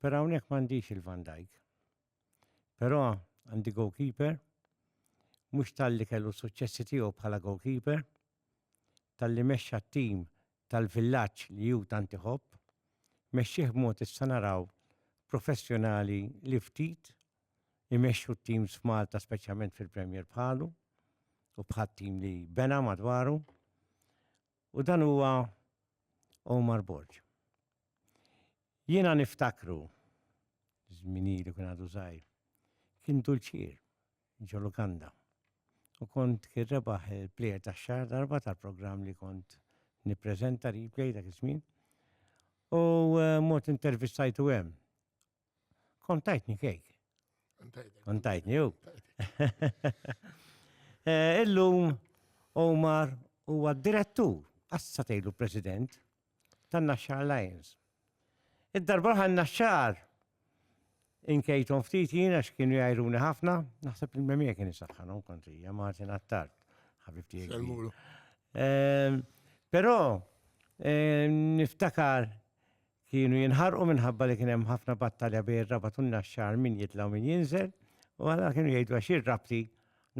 Però hawnhekk m'għandix il-Van Dijk. Però għandi goalkeeper mhux talli kellu suċċessi tiegħu bħala goalkeeper, talli mexxa t-tim tal-villaġġ li hu tant iħobb, mexxih b'mod issa naraw professjonali li ftit imexxu t-teams f'Malta speċjalment fil-Premier bħalu u bħat tim li bena madwaru u dan huwa Omar Borg. Jiena niftakru, żmini li kien għadu żgħir, kien dulċier ġo lukanda. U kont kien rebaħ il-plejer ta' xar darba tal-programm li kont nippreżenta replay dak iż-żmien. U eh, mod intervistajtu hemm. Kont tajtni kejk. Kont tajtni u. Eh, illum Omar huwa direttur, assa tgħidu president, tan-Naxxar Alliance. Id-darba ħan naxxar inkejtom ftit jien għax kienu jajruni ħafna, naħseb il-memija kien isaħħanom kontrija Martin Attard, ħabibti. Ehm, però ehm, niftakar Kienu jinħarqu minħabba li kien hemm ħafna battalja bejn ir-Rabat u n-Naxxar min jitla' u min jinżel, u allura kienu jgħidu għax jien rabti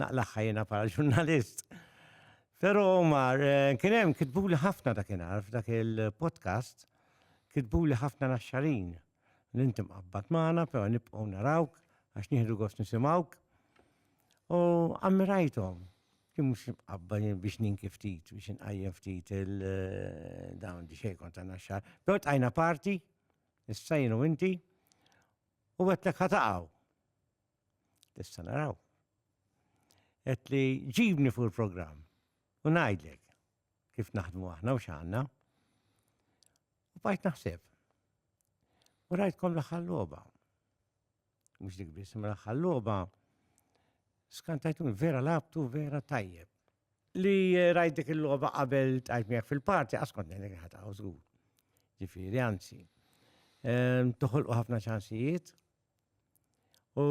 naqlagħha jiena bħala ġurnalist. Però Omar, eh, kien hemm kitbuli ħafna dakinhar f'dak il-podcast, kitbuli ħafna naxxarin li inti mqabbad magħna, però nibqgħu narawk għax nieħdu gost nisimgħuk. U ammirajthom, Jien mhux imqabba jien biex ninki ftit, biex inqajjem ftit il-dawn di xejkon ta' naxxar. Però tqajna parti, issa jien u inti, u għetlek ħataqaw. Tista' naraw. Għet li ġibni fuq il-programm u ngħidlek kif naħdmu aħna u x'għandna. U bajt naħseb. U rajtkom l-aħħar logħba. mhux dik biss, mela ħalloba skantajtuni vera labtu vera tajjeb. Li eh, rajt dik il-logħba qabel tajt miegħek fil-parti għas kont ngħidlek ħataw żgur. Ġifieri anzi. Ehm, toħolqu ħafna ċansijiet u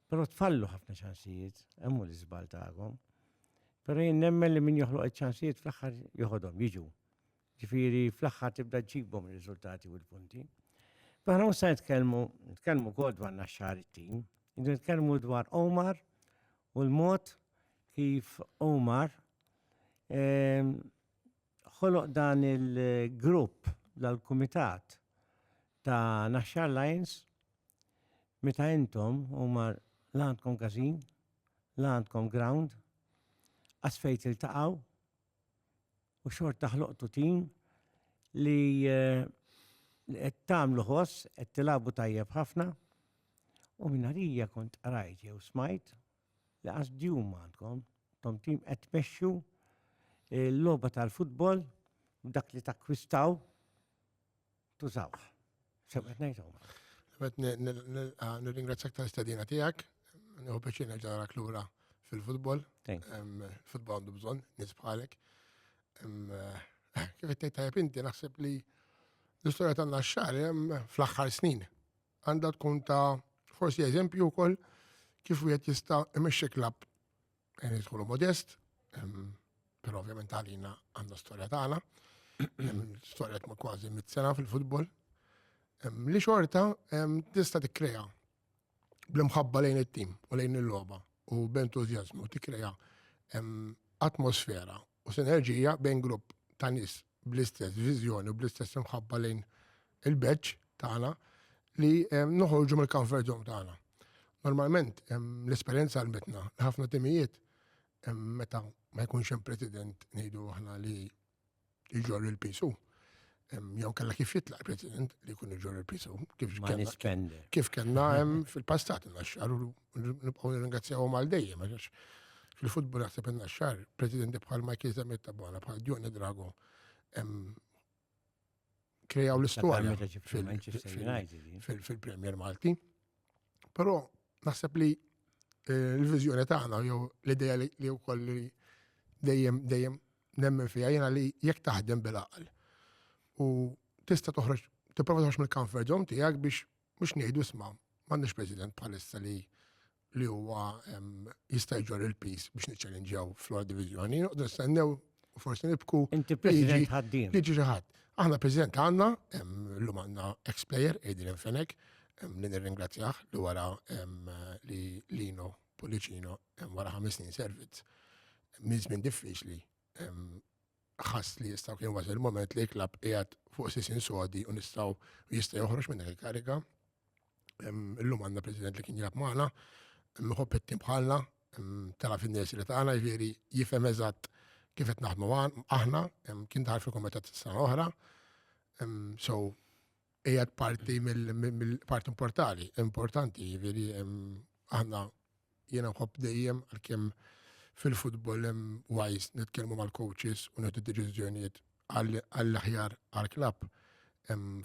però tfallu ħafna ċansijiet, hemm l-iżbal tagħkom. Però jien nemmen li min joħloq iċ-ċansijiet fl-aħħar joħodhom jiġu. Ġifieri fl-aħħar tibda ġġibhom ir-riżultati u l-punti. Aħna mhux se nitkellmu, nitkellmu wkoll dwar Naxxar it-tim, nitkellmu dwar Omar u l-mod kif Omar ehm, ħoloq dan il-grupp dal-kumitat ta' Naxxar Lions meta intom Omar l-għandkom każin, l-għandkom ground, għasfejt il-taqaw, u xorta ħloqtu tim li eh, qed tagħmlu ħoss, qed tilabu tajjeb ħafna. U minarija kont qrajt jew smajt li qas djum għandkom, tom tim qed tmexxu eh, l-logħba tal-futbol dak li takkwistaw tużawh. Sew qed ngħidhom. Qed nirringrazzjak tal-istedina tiegħek, nieħu pjaċir nerġa' narak lura fil-futbol. Futbol għandu bżonn nies bħalek. Eh, kif qed tgħid tajjeb inti naħseb li l-istorja tagħna x-xahar fl-aħħar snin għandha tkun ta' forsi eżempju wkoll kif wieħed jista' imexxi klabb Għen tkunu modest, pero ovvjament għalina għanna storja tagħna. Storja ma kważi mit sena fil-futbol. Li xorta tista' tikkrea bl-imħabba lejn it-tim u lejn il-logħba u b'entużjażmu tikkrea atmosfera u sinerġija bejn grupp ta' nies bl-istess viżjoni u bl-istess imħabba lejn il-badge tagħna li noħorġu mill-comfort zone tagħna. Normalment l-esperjenza għalmetna li ħafna timijiet meta ma jkunx hemm president ngħidu aħna li jġor il-pisu. Jew kellha kif jitlaq president li jkun iġor il-pisu kif kellna kif kellna hemm fil-passat naxxaru nibqgħu nirringrazzjawhom għal dejjem għax fil-futbol naħseb inna xar presidenti bħal Michael Zamet Tabona bħal Dione Drago krejaw l-istorja fil-Premier Malti. Però naħseb li eh, l-viżjoni tagħna jew l-idea li wkoll li dejjem dejjem nemmen fija jiena li jekk taħdem bil-aql u tista' toħroġ tipprova toħroġ mill-comfort zone tiegħek biex mhux ngħidu isma' m'għandniex President bħalissa li li huwa jista' jġor il-pis biex niċċellinġew fl divizjoni, noqdu nistennew u forsi nibku. Inti President ħaddim. Liġi xi ħadd. Aħna President għandna, llum għandna ex-player Adrian Fenek, li nirringrazzjah li wara li Lino Policino wara ħames snin servizz minn żmien diffiċli ħass li jistaw kien wasal il-moment li klab qiegħed fuq sisin sodi u nistaw jista' joħroġ minn dak il-kariga. Illum għandna President li kien jilab magħna, mħobb it-tim bħalna, tara fin-nies li tagħna jiġifieri jifhem eżatt kif qed naħdmu aħna, kien daħal fil-kumitat s-sena oħra. So, Ejjed parti mill-parti importanti, importanti, jiġifieri aħna jiena nħobb dejjem għalkemm fil-futbol hemm wajs nitkellmu mal-coaches u nagħtu deċiżjonijiet għall-aħjar għall-klabb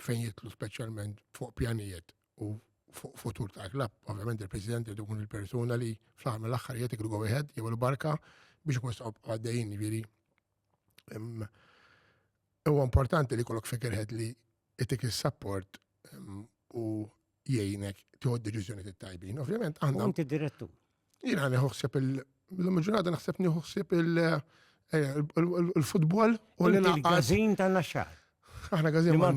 fejn jitlu speċjalment fuq pjanijiet u fuq futur ta' klabb. Ovvjament il-President irid ikun il-persuna li fl-aħħar mill-aħħar jgħid iklu go ahead, jagħmel barka biex ikun għaddejjin jiġifieri Huwa importanti li kollok figurehead li itik is-support u jgħinek tiħod deċiżjoni tajbin. Ovvjament, għandna. Inti direttur. Jina għani ħuħsib il-ġurnata naħseb nieħuħsib il-futbol u l-għazin ta' naxxar. Aħna għazin ma'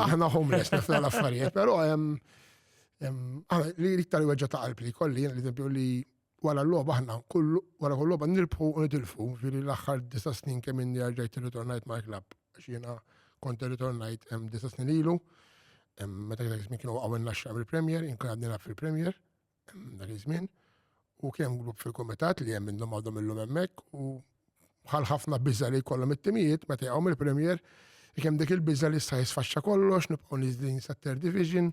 Aħna homeless nafna l-affarijiet, pero għana li iktar weġġa ta' qalb li kolli, li li Wara l-logħba aħna kull wara kull logħba nirbħu u nitilfu, ġifieri l-aħħar disa' snin kemm inni erġajt irritornajt mal-klabb għax jiena kont irritornajt hemm disa' snin ilu, meta dak iż-żmien kienu waqgħu n-naxxar mill-Premier, jien kien għad nilgħab fil-Premier dak iż-żmien u kien hemm grupp fil-kumitat li hemm minnhom għadhom illum hemmhekk u bħal ħafna biża' li jkollhom it-timijiet meta jaqgħu mill-Premier, kemm dik il-biża' li issa jisfaxxa kollox, nibqgħu niżlin sat-third division.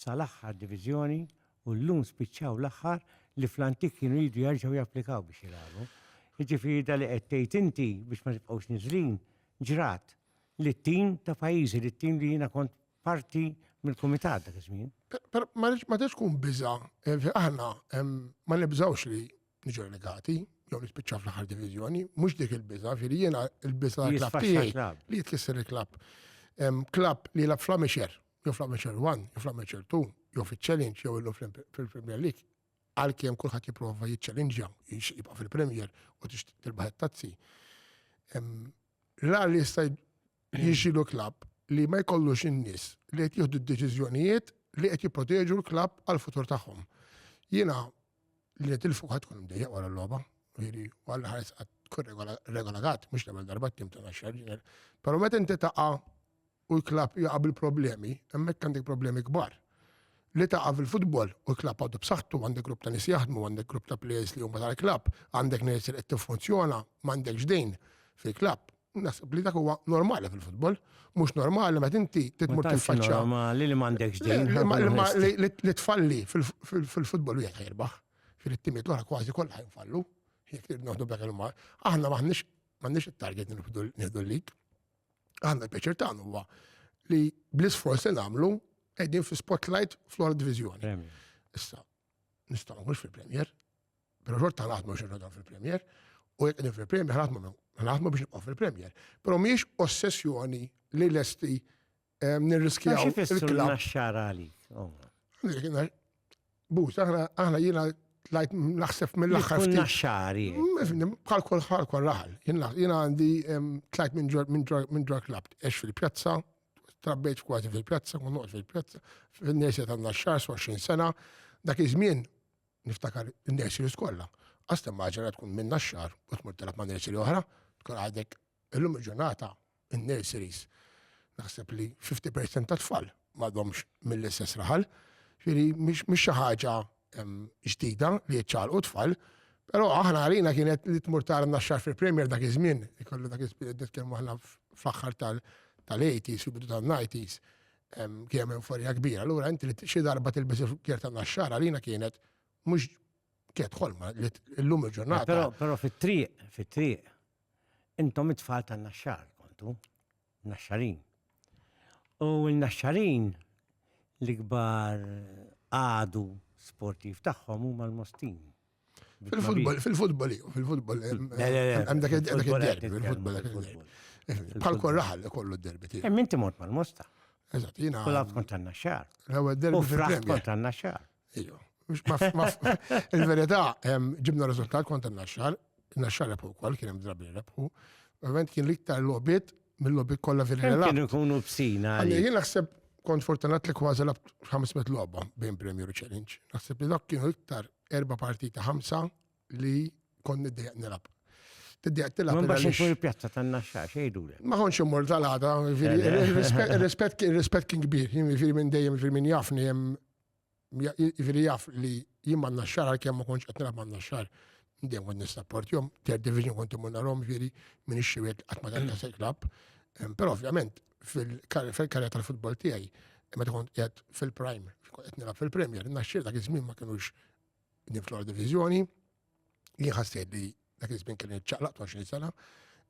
sal-aħħar diviżjoni u llum spiċċaw l-aħħar li fl-antik kienu jridu jerġgħu japplikaw biex jilagħbu. Jiġifieri dak li qed tgħid inti biex ma tibqgħux niżlin ġrat lit-tim ta' pajjiżi, lit-tim li jiena kont parti mill-kumitat dak iż-żmien. Ma tridx tkun biża', aħna ma nibżgħux li niġu relegati, jew nispiċċa fl-aħħar diviżjoni, mhux dik il-biża, ġifieri jiena l-biża l-klabb tiegħi li jitkisser il-klabb. Klabb li lab fl-Amixer, jew fl-Amixer 1, jew fl-Amixer 2, jew fil-Challenge, jew illum fil-Premier League, għalkemm kulħadd jipprova jiċċellinġja, jibqa' fil-Premier u tilbaħ it-tazzi. Rar li jista' jiġilu klabb li ma jkollux in-nies li qed jieħdu d-deċiżjonijiet li qed jipproteġu l-klabb għal-futur tagħhom. Jiena li qed tilfu ħadd tkun mdejjaq wara l-logħba, ġieli, u għal ħares qatt tkun regolatat, mhux l-ewwel darba tim ta' xarġiner. Però meta inti taqa' u l-klab jaqa' bil-problemi, hemmhekk għandek problemi kbar. Li taqa' fil-futbol u l-klab għadu b'saħħtu għandek grupp ta' nies jaħdmu, għandek grupp ta' players li huma tal-klab, għandek nies li qed tiffunzjona, m'għandekx dejn fil-klab. Nasib li dak huwa normali fil-futbol, mhux normali meta inti titmur tiffaċċa. Normali li m'għandekx din. Li tfalli fil-futbol wieħed ħirbaħ, fil-timiet l-oħra kważi kollha jinfallu, jekk trid noħdu b'dak il-mar. Aħna m'aħniex m'għandniex it-target nieħdu l-lig. Aħna l-pjaċir tagħna huwa li bl-isforz li nagħmlu qegħdin fi spotlight fl-ora diviżjoni. Issa, nistgħu nħux fil-Premier, Pero xorta naħdmu xorta dan fil-Premier, u jek qegħdin fil-Premier naħdmu naħdmu biex nibqgħu fil-Premier. Pero mhijiex ossessjoni li lesti eh, nirriskjaw. Xi fissru naxxar għalik? Oh. Bus, aħna aħna jiena tlajt naħseb mill-aħħar. Kun naxxari. Mm, bħal kol ħal kol raħal. Jiena għandi tlajt minn ġor klab, ex fil-pjazza, trabbejt kważi fil-pjazza, kun noqgħod fil-pjazza, fil-nesja tan-naxxar, 20 sena, dak iż-żmien Niftakar in-nurseries kollha. Għastem maġra tkun minna xar u tmur telab ma' nursery oħra, tkun għadek illum il-ġurnata in-nurseries. Naħseb li 50% ta' tfal ma domx mill-istess raħal. Ġifieri mhix xi ħaġa ġdida li jiċċaqlqu tfal, però aħna għalina kienet li tmur tara n-naxxar fil-Premier dak iż-żmien, ikollu dak iż-żmien qed nitkellmu aħna fl-aħħar tal-80s, fil-bidu tan-90s. kien hemm euforija kbira. Allura inti li xi darba tilbes il-kjer ta' naxxara lina kienet mhux kienet ħolma li llum il-ġurnata. Però però fit-triq, fit-triq, intom it-tfal ta' naxxar kontu, naxxarin. U l-naxxarin l-ikbar għadu sportiv tagħhom huma l-mostin. Fil-futbol, fil-futbol, fil-futbol. Għem dak il-derbi, fil-futbol. Bħal kol raħal li kollu d-derbi tiegħek. Hemm inti mort mal-mosta. Eżatt, jiena. U laf kont għandna xar. L-ewwel derbi. U fraħt kont għandna xar. Ejju. Il-verità, ġibna riżultat kont għandna xar, għandna xar rebħu wkoll kien hemm drabi rebħu. Ovvjament kien l-iktar logħbiet mill-logħbiet kollha fil-ħela. Kienu jkunu f'sina. Jien naħseb kont fortunat li kważi labt 500 logħba bejn Premier u Challenge. Naħseb li dak kienu iktar erba parti ta' ħamsa li kon niddejaq nilab. Tiddejaq tilab. Ma baxin fuq il-pjazza ta' naxxa xejdu. Ma konx immur tal-għada, il-rispet kien kbir, jiġifieri minn dejjem jiġifieri minn jafni hemm jiġifieri jaf li jien ma naxxar għalkemm ma konx qed nilab ma naxxar. Dejjem kont nistapporti jom, ter division kont imur narhom jiġifieri minn ix-xiwiet qatt ma dan naseklab. Però ovvjament fil-karja tal-futbol tiegħi, imma tkun qed fil-prime, qed nilgħab fil-Premier, naxxir dak iż-żmien ma kinux niflu għal diviżjoni, jien ħassejt li dak iż-żmien kien iċċaqlaq 20 sena,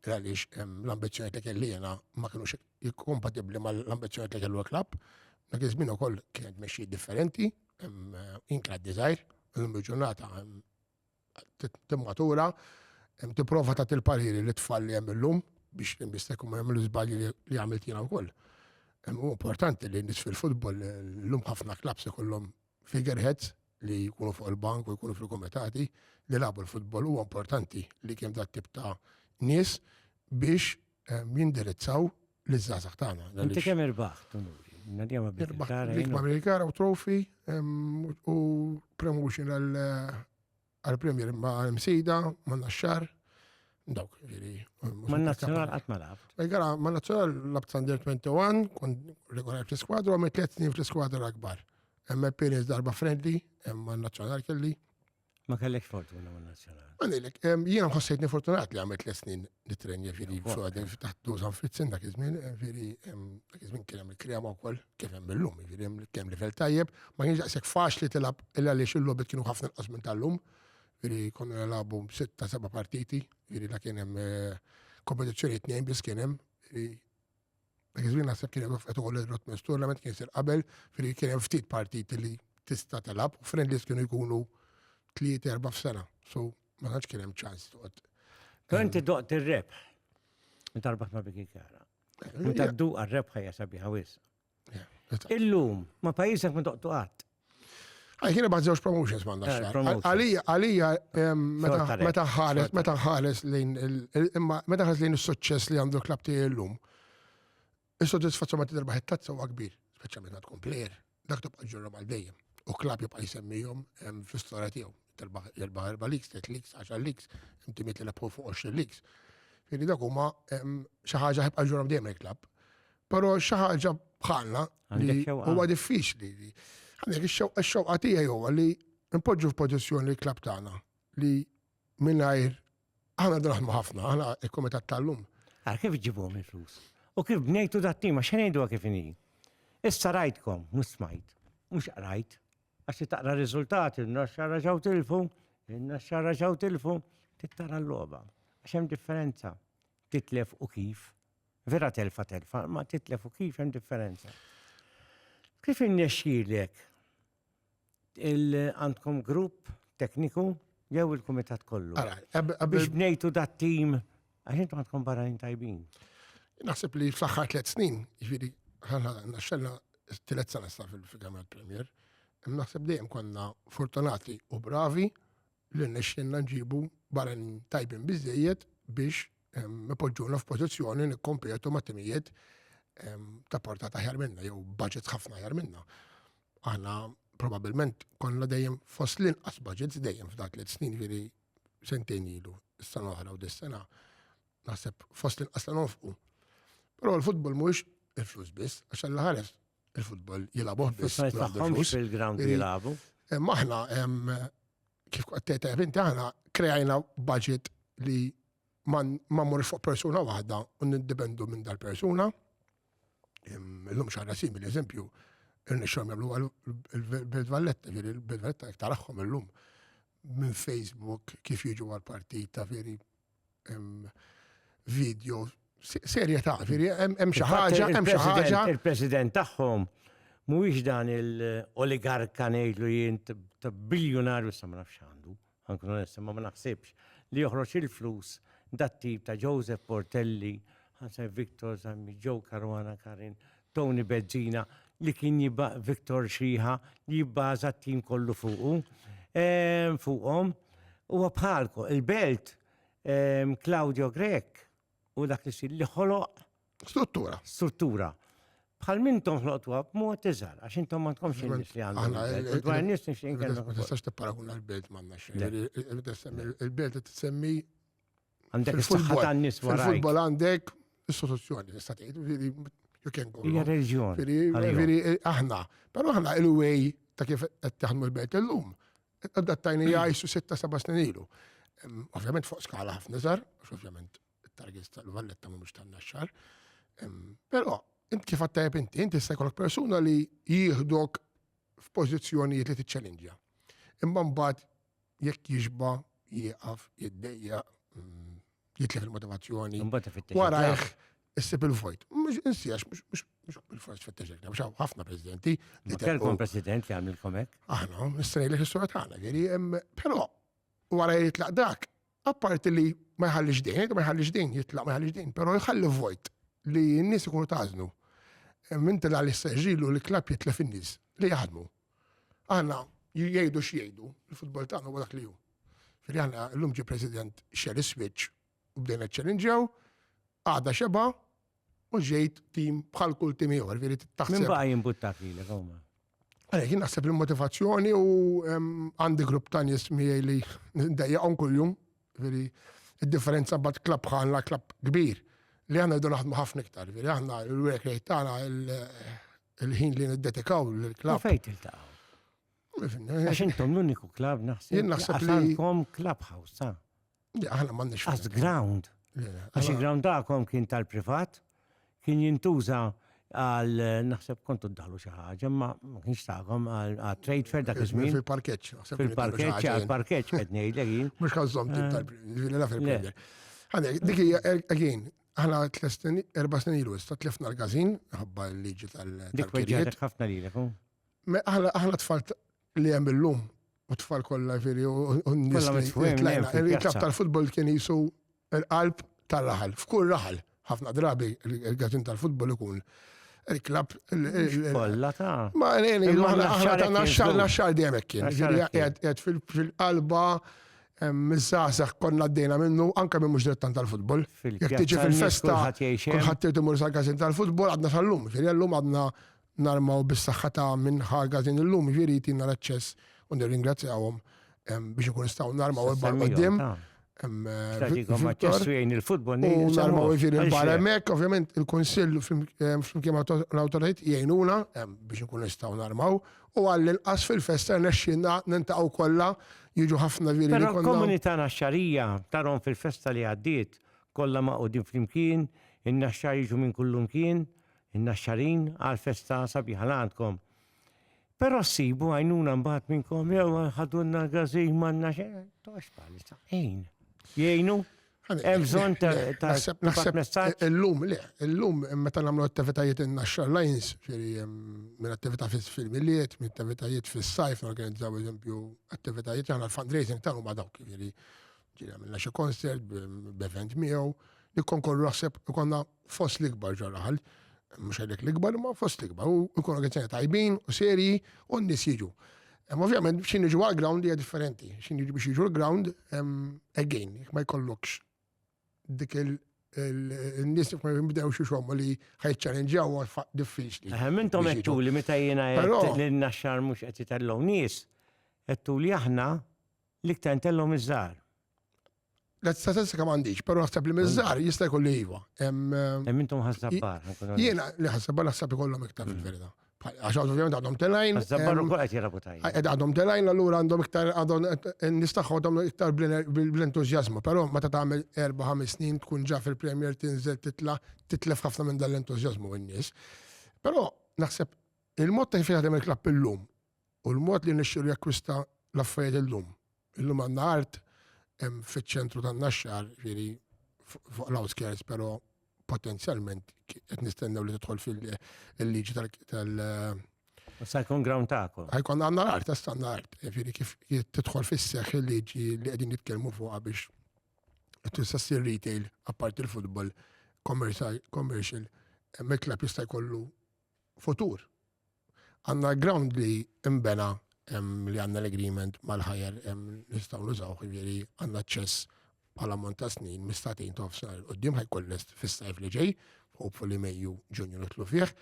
għaliex ehm, l-ambizzjoni li kelli jiena ma kinux kompatibbli mal-ambizzjoni li kellu l-klabb, dak iż-żmien ukoll kienet mexxi differenti, ehm, inkla d-dizajr, l-lum ġurnata ehm, timmatura, tipprova tagħti l-pariri li tfal li hemm illum biex l-imbistek ma jagħmlu żbalji li għamilt jiena wkoll. Hu importanti li nis fil-futbol l-lum ħafna klabs ikollhom figureheads li jkunu fuq il-bank u jkunu fil-komitati li labu l-futbol huwa importanti li kemm dat tip ta' nies biex jindirizzaw l-żgħażagħ tagħna. Inti kemm irbaħ tunuri? Nadjama bit-tara. L-ikma Amerikana u trofi u promotion għal-Premier ma' msida ma' naxxar. Dawk, ġiri. Ma' nazzjonal għat ma' labt. Gara, ma' nazzjonal labt Sander 21, kon regolar fl-skwadra, għamil 3 snin fl-skwadra l-akbar. Emma Perez darba friendly, emma nazzjonal kelli. Ma kellekx fortuna ma' nazzjonali. Ma lilek, jiena nħossejtni fortunat li għamilt l snin nitrenja ġiri f'għadin f'taħt dużan frizzin dak iż-żmien, ġiri dak iż-żmien kien hemm il-krema wkoll kif hemm illum, ġiri hemm kemm livell tajjeb, ma kienx daqshekk faċli tilab illa li xillobet kienu ħafna nqas minn tal-lum, ġiri konna nilagħbu sitta seba' partiti, ġiri dak kien hemm eh, kompetizzjoni tnejn biss kien hemm, Dak iż-żmien naħseb kien hemm qed ukoll il-Rotmans Tournament kien sir qabel, firri kien hemm ftit partiti li tista' telab u friendlies kienu jkunu tliet erba' f'sena. So ma tantx kien hemm ċans toqgħod. Però inti doqt ir-rebħ. Inti arbaħt ma' Biki Kara. Inti għaddu għar-rebħa hija sabiħa wis. Illum ma' pajjiżek ma doqtu qatt. Għaj, kien ibat zewġ promotions ma għandax xar. Għalija, għalija, meta ħares, meta ħares lejn, imma meta ħares lejn il-suċċess li għandu klab tiegħi l-lum, il-soddisfazzjon meta terbaħ it-tazza huwa kbir, speċjalment għad tkun plejer, dak tibqa' ġurra mal dejjem. U klab jibqa' jsemmihom fl-istorja tiegħu. Terbaħ erba' erba' leaks, tliet leaks, għaxar leaks, inti miet li fuq 20 leaks. Fili dak huma xi ħaġa ħibqa' ġurra dejjem il-klab. Pero xi ħaġa bħalna li huwa diffiċli li għandek ix-xewqa tiegħi huwa li npoġġu f'pożizzjoni li klab tagħna li mingħajr aħna draħmu ħafna, aħna il-Kumitat tal-lum. Għar kif ġibhom il-flus? U kif bnejtu dat-tim għax ngħidu kif inhi. Issa rajtkom, mhux smajt, mhux qrajt, għax taqra r-riżultati, n-naxxara ġew tilfu, n-naxxara ġew tilfu, tittara l-logħba. Għax hemm differenza titlef u kif. Vera telfa telfa, ma titlef u kif hemm differenza. Kif innexxilek il-għandkom grupp tekniku jew il-kumitat kollu? Biex bnejtu dat tim għax intom għandkom barranin tajbin. Naħseb li fl-aħħar tliet snin, jiġifieri ħana naxxella tliet sena sa fil-Kamra Premier, naħseb dejjem konna fortunati u bravi li nexxinna nġibu barranin tajbin biżejjed biex ipoġġuna f'pożizzjoni nikkompetu ma' timijiet ta' portata ħjar minna jew budgets ħafna ħjar minna. Aħna probabilment konna dejjem fost l-inqas budgets dejjem f'dak li snin ġiri sentejn ilu, s-sena oħra u dis-sena naħseb fost l-inqas ta' nofqu. Però l-futbol mhuwiex il-flus biss, għax għalla ħares il-futbol jilabuh biss. Fil-ground jilabu. Maħna kif qed tgħid inti aħna kreajna budget li ma mmur fuq persuna waħda u nindipendu minn dal-persuna. Illum xarra simili, eżempju, il-nixxom jagħmlu il-Belt Valletta, ġiri il-Belt Valletta taraħħom illum minn Facebook kif jiġu għal-partita, veri video serja ta' veri, hemm xi ħaġa, hemm xi ħaġa. Il-president tagħhom mhuwiex dan il-oligarka ngħidlu jien ta' biljonarju sa ma nafx għandu, anke onesta ma naħsibx li joħroġ il-flus dat-tip ta' Joseph Portelli, Ħasan Victor, Zammi Joe Caruana Karin, Tony Bezzina li kien jibgħa Victor Xiħa li jibbaża t-tim kollu fuqu, ehm, fuqhom. Huwa bħalku, il-belt, ehm, Claudio Grek u dak li li ħoloq. Struttura. Struttura bħal minn tom ħloqtuha b'mod iżgħar, għax intom ma tkomx in-nies li għandhom. Dwar nies nixtieq inkellem. Ma tistax tipparaguna l-belt m'għandna xejn. Il-belt tissemmi Għandek is-saħħa tan-nies wara. Fil-futbol għandek is-soluzzjoni nista' tgħid, you can go. Hija reġjon. Veri eh, aħna, però aħna il-way ta' kif qed taħdmu l-belt illum. Adattajni jgħixu sitta seba' snin ilu. Ovvjament fuq skala ħafna żgħar, ovvjament it-targets tal-valletta mhumiex tan-naxxar. Però int kif għattajb inti, inti se jkollok persuna li jieħdok f'pożizzjonijiet li tiċċellinġja. Imma mbagħad jekk jixba jieqaf, jiddejja, mm, jitlef il-motivazzjoni. Warajh, issib il-vojt. Mux insiex, mux bil-fors fitteġek, mux ħafna prezidenti. Li telkom president li għamil komek? Aħna, s-srej li s-sura tagħna, veri, pero wara jitlaq dak, apparti li ma jħallix din, ma jħallix din, jitlaq ma jħallix din, pero jħalli vojt li n-nis ikunu tażnu. Minn tela li s-seġilu li klab jitlef in-nis li jaħdmu. Aħna jgħidu x'jgħidu, il-futbol tagħna huwa dak li hu. Fili aħna llum ġi President xel is-switch u bdejna ċċellinġew, għada xeba u ġejt tim bħal kull tim ieħor, veri taħseb. Min baqa' jimbuttak lilek huma. Għalek, jien naħseb il-motivazzjoni u għandi grupp ta' nies miegħi li ndejjaqhom kuljum, veri id-differenza bad klab ħanna klab kbir li għanna jdu naħdmu ħafna iktar, veri aħna l-work rate tagħna il-ħin li niddedikaw l-klab. Fejn tiltaqgħu? Għax intom l-uniku klab naħseb. Jien naħseb li. Għandkom klab ħawsa. Aħna m'għandniex. Għaz ground. Għax il-ground daqkom kien tal-privat, kien jintuża għal naħseb kontu d-dalu xaħġa, ma kienx taħkom għal trade fair dak iż-żmien. Fil-parkeċ. Fil-parkeċ, għal-parkeċ qed ngħidlek jien. Mhux ħażhom tal-Premier. Dik hija again, Aħna tlesten erba' snin ilu issa tlifna l-każin ħabba l-liġi tal-kirijiet. ħafna li hu. Aħna tfal li hemm illum u tfal kollha veri u n-nies il-klab tal-futbol kien jisu l-qalb tal-raħal, f'kull raħal. Ħafna drabi il-gazin tal-futbol ikun il-klab. Kolla ta' ma' l-għeni, aħna ta' naxxal, naxxal dejjem kien. Għed fil-qalba Hemm iż-żgħażagħ konna għaddejna minnu, anke min mhux dilettant tal-futbol. Jekk tiġi fil-festa kulħadd irid imur sal-każin tal-futbol għadna sal-lum, ġifieri llum għadna narmaw bis-saħħa ta' min ħa l-każin illum, ġifieri jtina l-aċċess u nirringrazzjahom biex ikun nistgħu narmaw il-bar quddiem. Tagħtikom aċċess u jgħin il-futbol. U narmaw ġifieri l-bar hemmhekk, ovvjament il-kunsill flimkien mal-awtoritajiet jgħinuna biex ikun nistgħu narmaw u għall-inqas fil-festa rnexxielna niltaqgħu kollha, jiġu ħafna viri li konna. Però l-komunità Naxxarija tarhom fil-festa li għaddiet, kollha magħqudin flimkien, in-Naxxar jiġu minn kullumkien, in-Naxxarin, għall-festa sabiħa li għandkom. Però ssibu għajnuna mbagħad minnkom jew ħadulna l-gażin m'għandna xejn, toqgħodx bħalissa. Għin. Jgħinu? Hemm bżonn ta' tibgħat messaġġ? Illum le, illum meta nagħmlu attivitajiet in-Naxxar Lions, ġifieri minn attività fil-milied, minn attivitajiet fis-sajf, norganizzaw eżempju attivitajiet, aħna l-fundraising tagħna huma dawk, ġifieri għamilna xi concert b'event miegħu, nikkonkorru naħseb ikollna fost l-ikbar ġo raħal, mhux għalhekk l-ikbar, ma fost l-ikbar, u jkunu organizzazzjoni tajbin u serji u n-nies jiġu. Ovvjament, xin iġu għal-ground hija differenti, xin iġu biex iġu l-ground, again, ma jkollokx dik il-nis ma jibdew xie xommu li ħajċċarrenġaw diffiċli. Mintom għettu li meta jena l-naxxar mux għetti tal-law nis, għettu li aħna L-iktar ntellgħu miż-żgħar. La statistika m'għandix, però naħseb li miż-żgħar mm. jista' jkollu iva. Hemm intom ħassabbar. Jiena li ħassabbar naħseb ikollhom iktar mm. fil-verità. Għax ovvjament għadhom telajn. Ħassabbar ukoll qed jilagħbu tajjeb. Eh, għadhom telajn allura għandhom iktar għadhom eh, nistaħħu għadhom iktar bl-entużjażmu, però meta tagħmel erba' ħames snin tkun ġa fil-Premier tinżel titla' titlef ħafna minn dan l-entużjażmu in-nies. Però naħseb il-mod ta' kif jaħdem il-klapp illum U l-mod li nexxielu jakkwista l-affarijiet illum. Illum għandna art hemm fiċ-ċentru tan-Naxxar, ġifieri fuq l-outskirts, però potenzjalment qed nistennew li tidħol fil-liġi tal- Sa jkun ground tagħkom. Ħajkun għandna l-art, issa għandna art. Ġifieri kif tidħol fis-seħħ il-liġi li qegħdin nitkellmu fuqha biex tista' ssir retail apparti l-futbol commercial, mill-klabb jista' jkollu futur. Għandna l-ground li imbena li għandna l-agreement mal-ħajer nistgħu nużaw ħivieri għandna ċess bħala mont ta' snin mistatin tof sena l-qoddim ħajkun lest fis-sajf li ġej, hopefully Mejju Ġunju nitlu fih.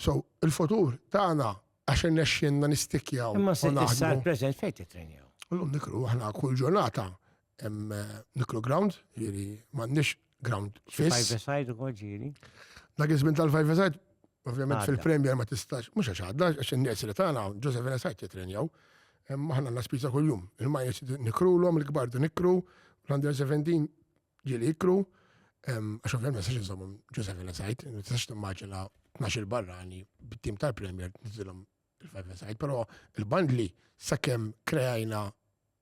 So, il-futur tagħna għax irnexxinna nistikjaw. Imma s-sar preżent fejn titrenjaw? L-lum nikru aħna kull ġurnata Hemm Niklu Ground, jiġifieri m'għandniex ground fiss. Five-a-side ukoll ġieli. Dak iż-żmien tal-five-a-side Ovvjament fil-Premier ma tistax, mhux għax għadda, għax in-nies li tagħna Joseph Venesajt jitrenjaw. Aħna għandna spiża kuljum. Il-majers nikrulhom, il-kbar nikru, l-under 17 ġieli ikru. Għax ovvjament ma tistax iżommhom Joseph Venesajt, ma tistax timmaġina 12 barra għani bit-tim tal-Premier nizilhom il-five side, però il-bandli sakemm krejajna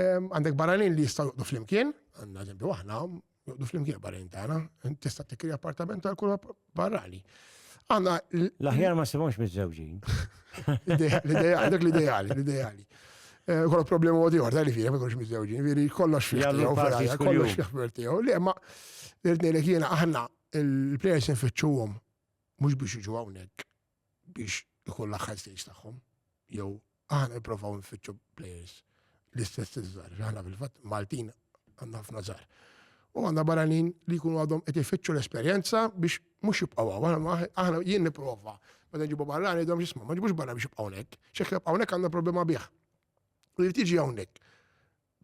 Għandek barranin li jistaw juqdu flimkien, għanna ġembi waħna, juqdu flimkien barranin tagħna, tista' tikkri appartament għal kull barrani. Għanna. L-aħjar ma sibomx mizzewġin. L-ideja, dak l-ideali, l-ideali. Eh, Kollu problema għodi għor, li fija, ma kollox mizzewġin, veri kollox jgħu ferajja, kollox jgħu Li ma, l-irtnejlek jena aħna, il-players nfittxuhom, mux biex iġu għawnek, biex ikun l-aħħar stage tagħhom, jew aħna nipprovaw nfittxu players l-istess iż-żgħar, aħna fil-fatt Maltin għandna ħafna żgħar. U għandna barranin li jkunu għadhom qed ifittxu l-esperjenza biex mhux jibqgħu hawn. Aħna jien nipprova meta nġibu barrani dom jisma' ma ġibux barra biex jibqgħu hawnhekk. X'hekk jibqgħu hawnhekk għandna problema bih. U jrid jiġi hawnhekk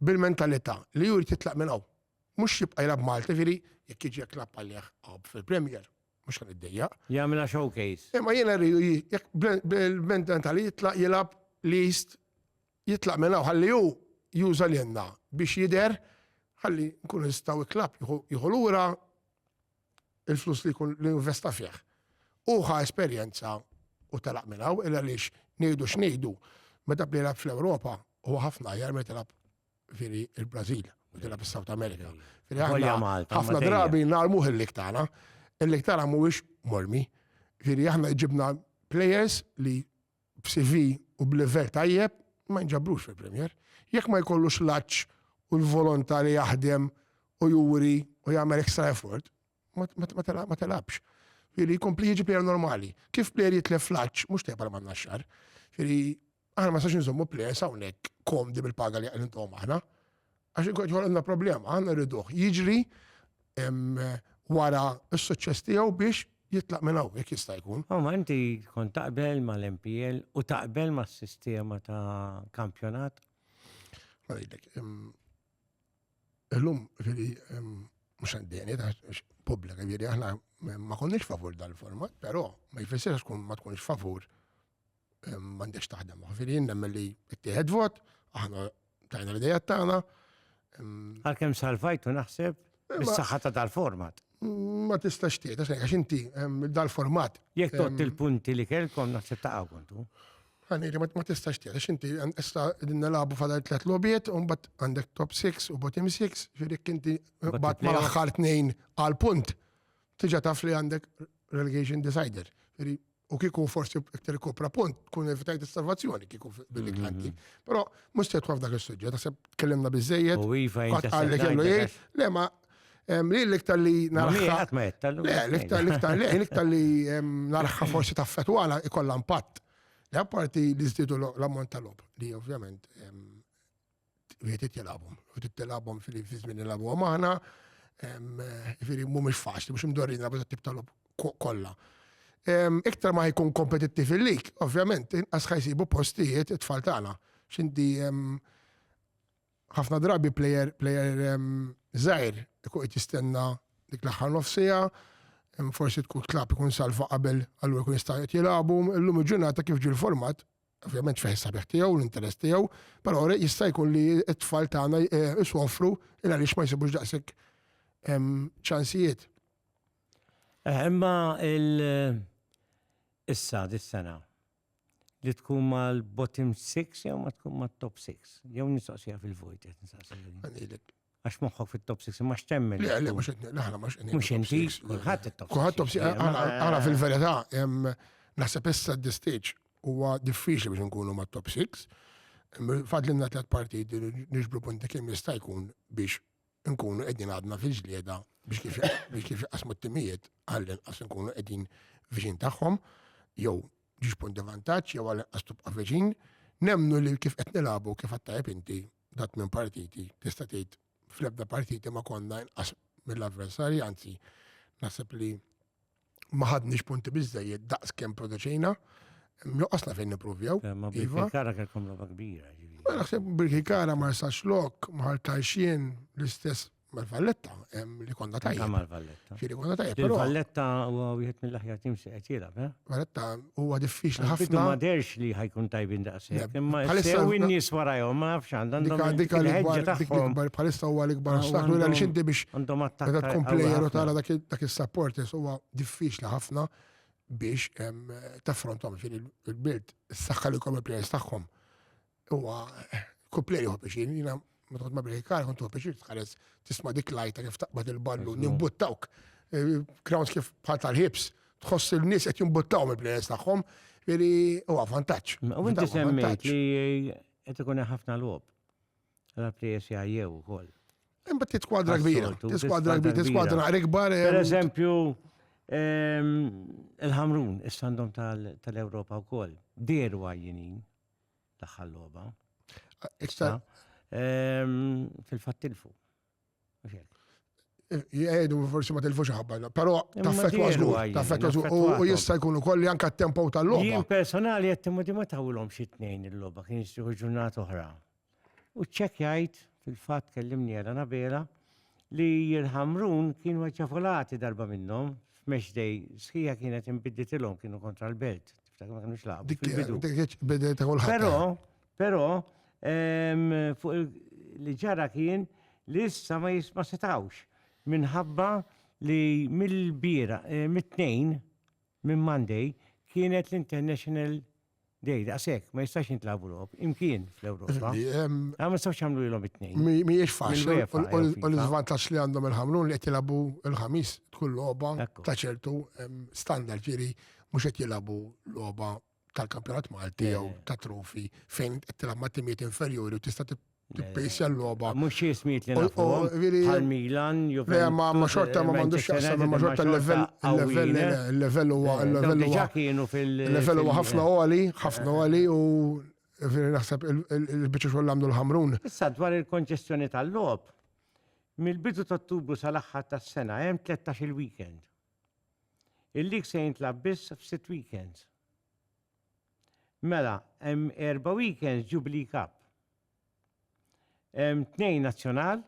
bil-mentalità li jrid jitlaq minn hawn. Mhux jibqa' jilgħab Malti, ġifieri jekk jiġi jekk lab għalih fil-Premier mhux ħan iddejjaq. Jagħmilha showcase. Imma jiena rridu jekk bil-mentalità li jitlaq jilgħab list jitlaq minn hawn ħalli hu juża lilna biex jidher ħalli nkunu nistgħu klab jieħu lura il-flus li jkun li investa fih. U ħa esperjenza u telaq minn hawn illa lix ngħidu x'ngħidu meta bdejlab fl-Ewropa huwa ħafna jar meta Veri il-Brażil, u tilab is-South America. Veri ħafna drabi narmuh il-lik tagħna, il-lik tagħna mhuwiex mormi. Veri aħna ġibna players li b'CV u b'level tajjeb ma nġabrux fil-Premier. Jekk ma jkollux laċ u l-volontà li jaħdem u juri u jagħmel extra effort, ma telabx. Ġifieri jkompli jiġi plejer normali. Kif plejer jitlef fl-għaġġ mhux tajjeb għal man naxxar. Ġifieri aħna ma sax nżommu plejers hawnhekk komdi bil-paga li qed intom aħna. Għax inkun ħolqna problema, aħna rriduh jiġri wara s-suċċess tiegħu biex jitlaq minn hawn jekk jista' jkun. U ma inti kont taqbel mal-MPL u taqbel mas-sistema ta' kampjonat? Ma ngħidlek, Illum, ġiri, mux għandini, publika, ġiri, aħna ma konniex favur dal-format, pero ma jfessirx kun ma tkunx favur mandex taħdem. Ġiri, nemmen li t-tieħed vot, aħna tajna l-idejat tagħna. Għalkemm salvajtu naħseb bis-saħħa ta' dal-format. ma tistax tgħid għax għax inti ehm, dal-format. Jekk tot ehm, il-punti li kellkom naħseb ta' kontu. Għaniri, ma tistax tgħid għax inti ehm, issa din nilagħbu fadal tliet lobiet u mbagħad għandek top 6 u bottom 6, ġirik inti mbagħad ma l-aħħar tnejn għal punt. Tiġa taf li għandek relegation decider. U kiku forsi iktar kopra punt, tkun evitajt il-salvazzjoni kiku billi mm-hmm. kanti. Pero, mux se tħaf dak il-sujġet, għasab tkellimna bizzejed. U iva, għalli kellu jgħid, le ma, li l-iktar li narħa. Le, l-iktar l-iktar li, l-iktar li narħa forsi ta' fetwala ikolla impatt. Le, apparti li zdidu l-ammont tal-ob, li ovvjament wieħed qed jilgħabhom, u qed tilgħabhom fil-żmien nilgħabhom aħna, jifieri mhumiex faċli, mhux imdorrin nilgħabu tat-tip tal-lob kollha. Iktar ma jkun kompetittiv il-lik, ovvjament, inqas ħajsibu postijiet it-tfal tagħna. X'inti ħafna drabi plejer plejer żgħir ikun qed jistenna dik l-aħħar nofsija, forsi tkun tlab ikun salva qabel għallu jkun jista' jilagħbu, illum il-ġurnata kif ġil format ovvjament fih sabiħ tiegħu, l-interess tiegħu, però jista' jkun li t-tfal tagħna eh, isofru il għaliex ma jsibux daqshekk ċansijiet. Eh, imma il- issa dis-sena li tkun mal-bottom 6 jew ma tkun mat-top 6. Jew nistaqsija fil-vojt qed nistaqsija. Għax moħħok fit-top 6, imma x'temmen? Le, le, mhux qed aħna mhux qed Mhux inti, kulħadd it-top 6. Kulħadd top 6, għala fil-verità, naħseb issa d stage huwa diffiċli biex nkunu ma' top 6. Fadlinna tliet partiti niġbru punti kemm jista' jkun biex nkunu qegħdin għadna fil-ġlieda biex kif jaqsmu t-timijiet għallin qas nkunu qegħdin viċin tagħhom jew ġiex punti vantaġġ jew għallin qas tibqa' viċin. Nemnu li kif qed nilagħbu kif għattajb inti da tmien partiti, tista' tgħid fl-ebda partiti ma konna inqas mill-avversarji, anzi naħseb li ma ħadniex punti biżejjed daqs kemm produċejna. Nuqqasna fejn nipruvjaw. Eh, ma iva. kara kelkom roba kbira. Ma naħseb birki kara ma jistax lok, ma ħaltajxien l-istess mal-Valletta, li konna tajja. Mal-Valletta. Xiri konna tajja. Il-Valletta u wieħed mill-aħjar tim se qed jilgħab, eh? Valletta huwa diffiċli ħafna. Bidu ma derx li ħajkun tajbin daqshekk, imma issa n-nies warajhom ma nafx għandhom. Dik l-ikbar bħalissa huwa l-ikbar ah, ostaklu li għaliex inti biex meta tkun plejer u tara dak is-support huwa diffiċli ħafna biex taffrontom ġieli il-birt s-saħħa li kom il-plejers tagħhom Huwa kuplej juħu biex jina ma tħod ma biex kar kont tuħu biex tħares tisma' dik lajta kif taqbad il-ballu nimbuttawk. Crowns eh, kif bħal tal-ħibs tħoss il-nies qed jimbuttaw mill-plejers tagħhom, veri huwa vantaġġ. U inti semmejt li qed ikun ħafna logħob. Għal plejers jgħajjew ukoll. Imma t skwadra kbira, t-skwadra kbira, t-skwadra ikbar. Per eh, eżempju, ehm, il-ħamrun, is-sandom tal-Europa u koll, deru għajjinin, L-aħħar logħba. Iktar. Fil-fatt tilfu. Jgħidu forsi ma tilfux ħabba, però taffetwa żgur, taffetwa żgur u jista' jkun ukoll li anke t-tempo tal-logħba. Jien personali qed timodi ma tawilhom xi tnejn il-logħba kien jixtieħu ġurnata oħra. U ċċekkjajt, fil-fatt kellimni għal Anabela, li l-Ħamrun kienu ċafolati darba minnhom f'Mexdej, sħija kienet inbidditilhom kienu kontra l-belt, tiftakar ma kinux laqgħu Dik fil-bidu. dik kienet bidel ta' kulħadd. Però, però, em, fuq il- li ġara kien li issa ma jis- ma setawx minħabba li mill-bira, eh, mit-tnejn, minn Monday, kienet l-International Dej, daqshekk, ma jistax jintlabu logħob, imkien fl-Ewropa. Ma nistgħux jagħmlu lilhom it-tnejn. Mhijiex faċli, u l-iżvantaġġ li għandhom il-ħamrun li qed jilagħbu l-ħamis tkun logħba ta' ċertu standard ġieri mhux qed jilagħbu logħba tal-kampjonat Malti jew ta' trofi fejn qed tilgħab ma' timijiet inferjuri u tista' Tippejsja l-logħba. Mhux xi ismijiet li nafuhom bħal Milan, Juventus. Le, ma xorta ma m'għandux x'jaqsam ma xorta l-level, il-level, il-level huwa, il-level huwa. kienu fil- Il-level huwa ħafna għoli, ħafna għoli u veri naħseb il-biċċa xogħol għamlu l-ħamrun. Issa dwar il-konċessjoni tal-logħob, mill-bidu ta' Ottubru sal-aħħar tas-sena hemm 13 il-weekend. Il-lig se jintlab biss f'sitt weekends. Mela, hemm erba' weekends Jubilee Cup. Hemm tnejn Nazzjonal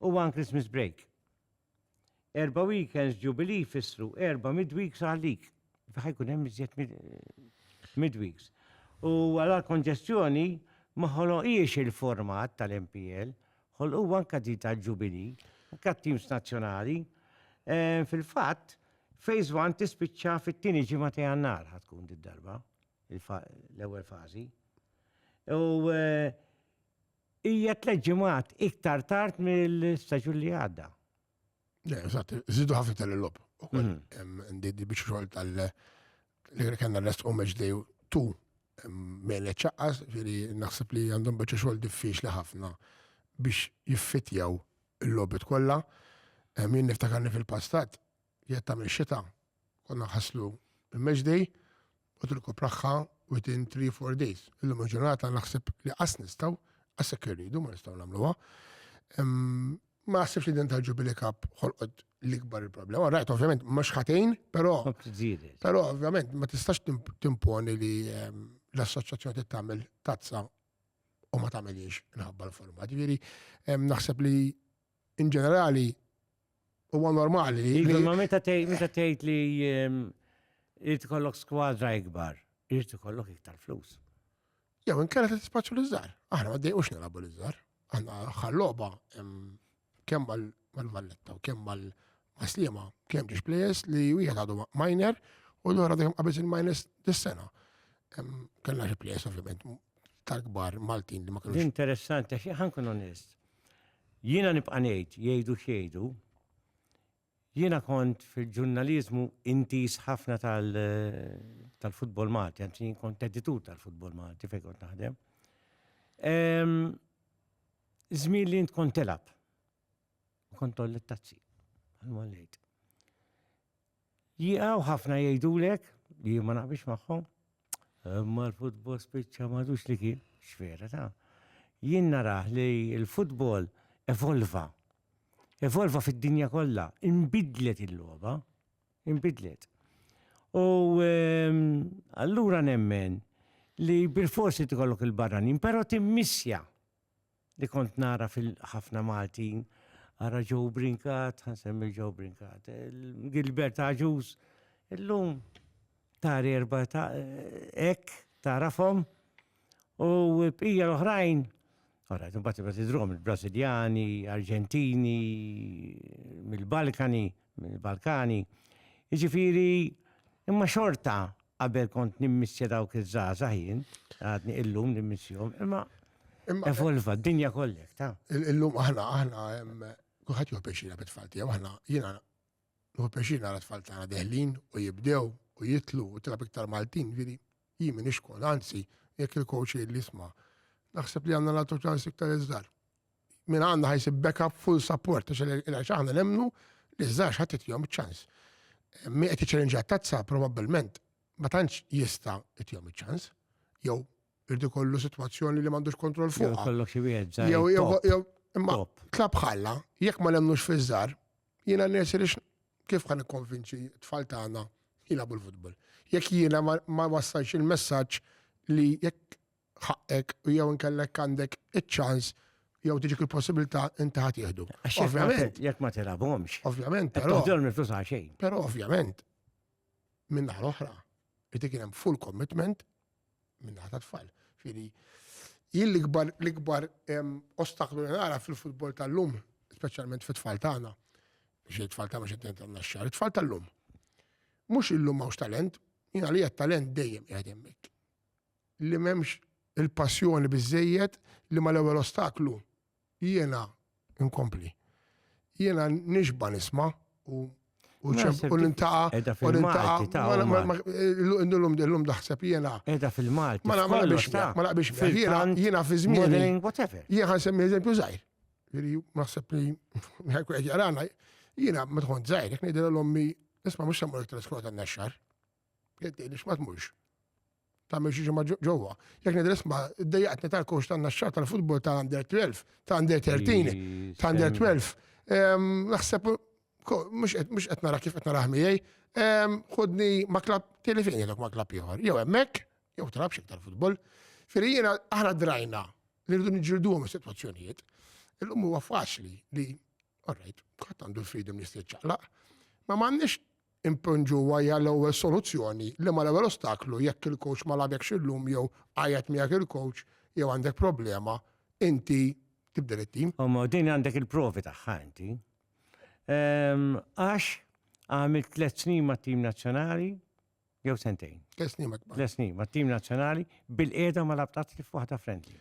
u one Christmas break. Erba' weekends Jubilee jfissru erba' midweeks għalik. Ħa jkun hemm iżjed midweeks. U għala l-konġestjoni ma ħoloqhiex il-format tal-MPL, ħolquha anke din tal-Jubilee, anke għat-teams nazzjonali. Fil-fatt, Phase one tispiċċa fit-tieni ġimgħa ta' Jannar ħa tkun did-darba, l-ewwel fażi. U hija tliet ġimgħat iktar tard mill-staġun li għadda. Eżatt, żidu ħafna iktar il-lob. Ndi biex xogħol tal- li kellna rest u match day tu mele ċaqqas, ġiri naħseb li għandhom biex xogħol diffiċli ħafna biex jiffitjaw Il-logħbiet kollha, jien niftakar li fil-passat, jekk tagħmel xita, konna nħasslu il-match day u tirkupraħħa within 3-4 days. Illum il-ġurnata naħseb li qas nistgħu, qas jekk irridu ma nistgħu nagħmluha. Ma naħsibx li din tal-Jubilee Cup ħolqot l-ikbar il-problema. Rajt, ovvjament, mhux ħatejn, però. Però, ovvjament, ma tistax timponi li ehm, l-assoċjazzjoni tagħmel tazza u ma tagħmilhiex inħabba l-format. Ġifieri naħseb li in ġenerali huwa normali. Iva, ma meta tgħid li irid ikollok skwadra ikbar, irid ikollok iktar flus. Jew inkella tispaċċu l-iżżar. Aħna ma dejqux nilagħbu l-iżżar. Aħna ħalloba kemm mal-valletta u kemm mal-maslima, kemm ġiex plejes li wieħed għadu minor u l-għara dejjem qabez il-minors dis-sena. Kellna xi plejes ovvjament tal-kbar Maltin li ma kienux. Interessanti, xi ħankun onest. Jiena nibqa' ngħid, jgħidu xejdu, Jiena kont fil-ġurnaliżmu intiż ħafna tal-futbol Malti, anzi jien kont editur tal-futbol Malti fejn kont naħdem. Żmien li int kont tilgħab. Kont toll it-tazzi. Għal-mollejt. Jiqaw ħafna jgħidulek li ma naqbix magħhom, Imma l-futbol spiċċa madux li kien, x'vera ta' jien narah li l-futbol evolva. Evolva fid-dinja kollha, inbidlet il-logħba, inbidlet. U ehm, allura nemmen li bil-forsi tkollok il-barranin, però timmissja li kont nara fil-ħafna Maltin, ara Joe Brinkat, ħansemmi Joe Brinkat, Gilbert Aġus, illum tari erba ta' ek, tarafom, u bqija l-oħrajn, Ora, imbagħad imbagħad idrom il-Brażiljani, Arġentini, mill-Balkani, mill-Balkani. Jiġifieri imma xorta qabel kont nimmissja dawk iż-żgħażagħ jien, għadni illum nimmissjhom, imma evolva d-dinja kollek, ta'. Illum aħna aħna kulħadd juħu pjaċina bit-tfal tiegħu, aħna jiena nuħu pjaċina għal tfal tagħna deħlin u jibdew u jitlu u tilab iktar Maltin, vidi, jien minn ixkol, anzi, jekk il-coach li jisma' naħseb li għandna nagħtu ċans iktar iżdar. Min għandna ħajsib backup full support, għax aħna nemnu li żgħax ħadd jom ċans. Mi qed iċċelenġa tazza probabbilment ma tantx jista' jom ċans, jew Irid ikollu sitwazzjoni li m'għandux kontroll fuq. Kollok xi wieħed Jew jew imma tlab ħalla, jekk ma nemmnux fiż-żar, jiena nirsi li kif ħan ikkonvinċi tfal tagħna jilagħbu l-futbol. Jekk jiena ma wassalx il-messaġġ li jekk ħaqqek u jew inkellek għandek iċ-ċans jew tiġik il-possibilità inti ħadd jieħdu. Ovvjament. Jekk ma tilabhomx. Ovvjament. Però niflus xejn. Però ovvjament. Minn naħa l-oħra, irid kien hemm full commitment minnaħa ta' tfal. Fili, jien l-ikbar l-ikbar ostaklu li nara fil-futbol tal-lum, speċjalment fit-tfal tagħna, biex it-tfal tagħna xi tnejn tagħna xar, it-tfal tal-lum. Mhux illum hawnx talent, jien għalija talent dejjem qiegħed hemmhekk. Li m'hemmx il-passjoni biżejjed li mal-ewwel ostaklu Jiena, inkompli, jiena nixba nisma u u nintaqa. Edha fil-Malti ta' l-lum daħseb jiena. Edha fil-Malti. Ma naqbix ta' ma naqbix jiena jiena fi żmien. whatever. Jiena ħan semmi eżempju zaħir. Veri, naħseb li ħajku qed jarana. Jiena ma tħon żgħir, jekk ngħidilha l-ommi, isma' mhux semmur iktar skota n-nexxar. Jgħidilix ma tmurx. Tagħmel xi ġimgħa ġewwa. Jekk nidher isma' ddejjaqtni tal-kowx tan-naxxar tal-futbol ta' under 12, ta' under 13, ta' under 12. Naħseb mhux qed nara kif qed nara ħmiej. Ħodni ma' klab tieni fejn jgħidlek ma' klab ieħor. Jew hemmhekk, jew trabx iktar futbol. Firri jiena aħna drajna li rridu niġġilduhom is-sitwazzjonijiet. Illum huwa faċli li, all right, ħadd għandu l-freedom li jista' jiċċaqlaq, ma m'għandniex Impoġġu huwa hija l-ewwel soluzzjoni, liema l-ewwel ostaklu jekk il-kowċ ma lagħbekx illum jew għajjat miegħek il-kowċ jew għandek problema, inti tibdel it-tim. Imma din għandek il-provi tagħha inti. Għax għamilt tliet snin mat-tim nazzjonali jew sentejn. Tliet snin mat-tim nazzjonali bil-qiegħda ma labtazz kif waħda friendly.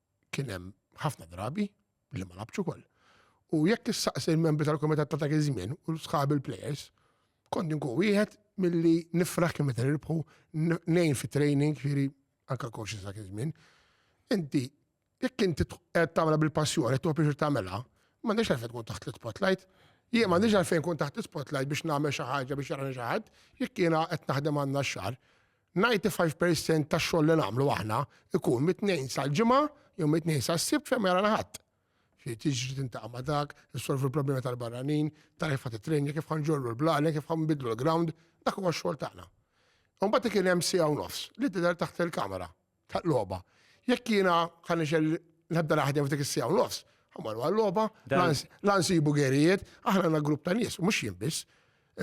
kien hemm ħafna drabi li ma labċu kol. U jekk issaqsi l-membri tal-komitat ta' dak iż-żmien u sħab il-players, kont nkun wieħed milli nifraħ kemm meta nirbħu nejn fi training, ġieri anka coaches dak iż-żmien. Inti jekk inti qed tagħmilha bil-passjoni, qed tuħu tagħmilha, m'għandekx għalfejn tkun taħt l-spotlight. Jien m'għandix għalfejn kun taħt spotlight biex nagħmel xi ħaġa biex jarani xi ħadd, jekk jiena qed naħdem għandna x-xar, Ninety five per cent tax-xogħol li nagħmlu aħna jkun mit-Tnejn sal-Ġimgħa jew mit-Tnejn sas-Sibt fejn ma jarana ħadd. Ġifieri tiġri tintaqa' ma' dak, issolvi l-problemi tal-barranin, tara kif ħadd it-train, kif ħanġorru l-blalen, kif ħanbidlu l-ground, dak huwa x-xogħol tagħna. Imbagħad kien hemm siegħa u nofs li tidher taħt il-kamera, taħt logħba. Jekk jiena ħa nixel nibda naħdem f'dik is-siegħa u nofs, ħammorru għal-logħba, la nsibu gerijiet, aħna għandna grupp ta' nies, mhux jien biss.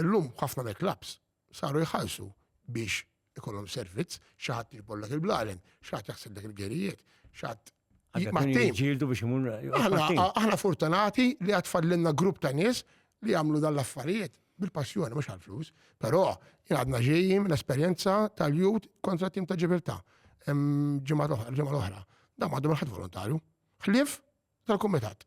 Illum ħafna mill-klabbs saru jħallsu biex ikollhom servizz, xi ħadd jiġbollok il-blaren, xi ħadd jaħsellek il-gerijiet, xi ħadd Ġildu biex imur. Aħna fortunati li għad fallinna grupp ta' nies li jagħmlu dan l-affarijiet bil-passjoni, mhux għal-flus. Però għadna ġejjin l-esperjenza tal-jut kontra tim ta' ġibilta. Ġimgħa l-oħra. Da ma għadhom ħadd volontarju. Ħlief tal-kumitat.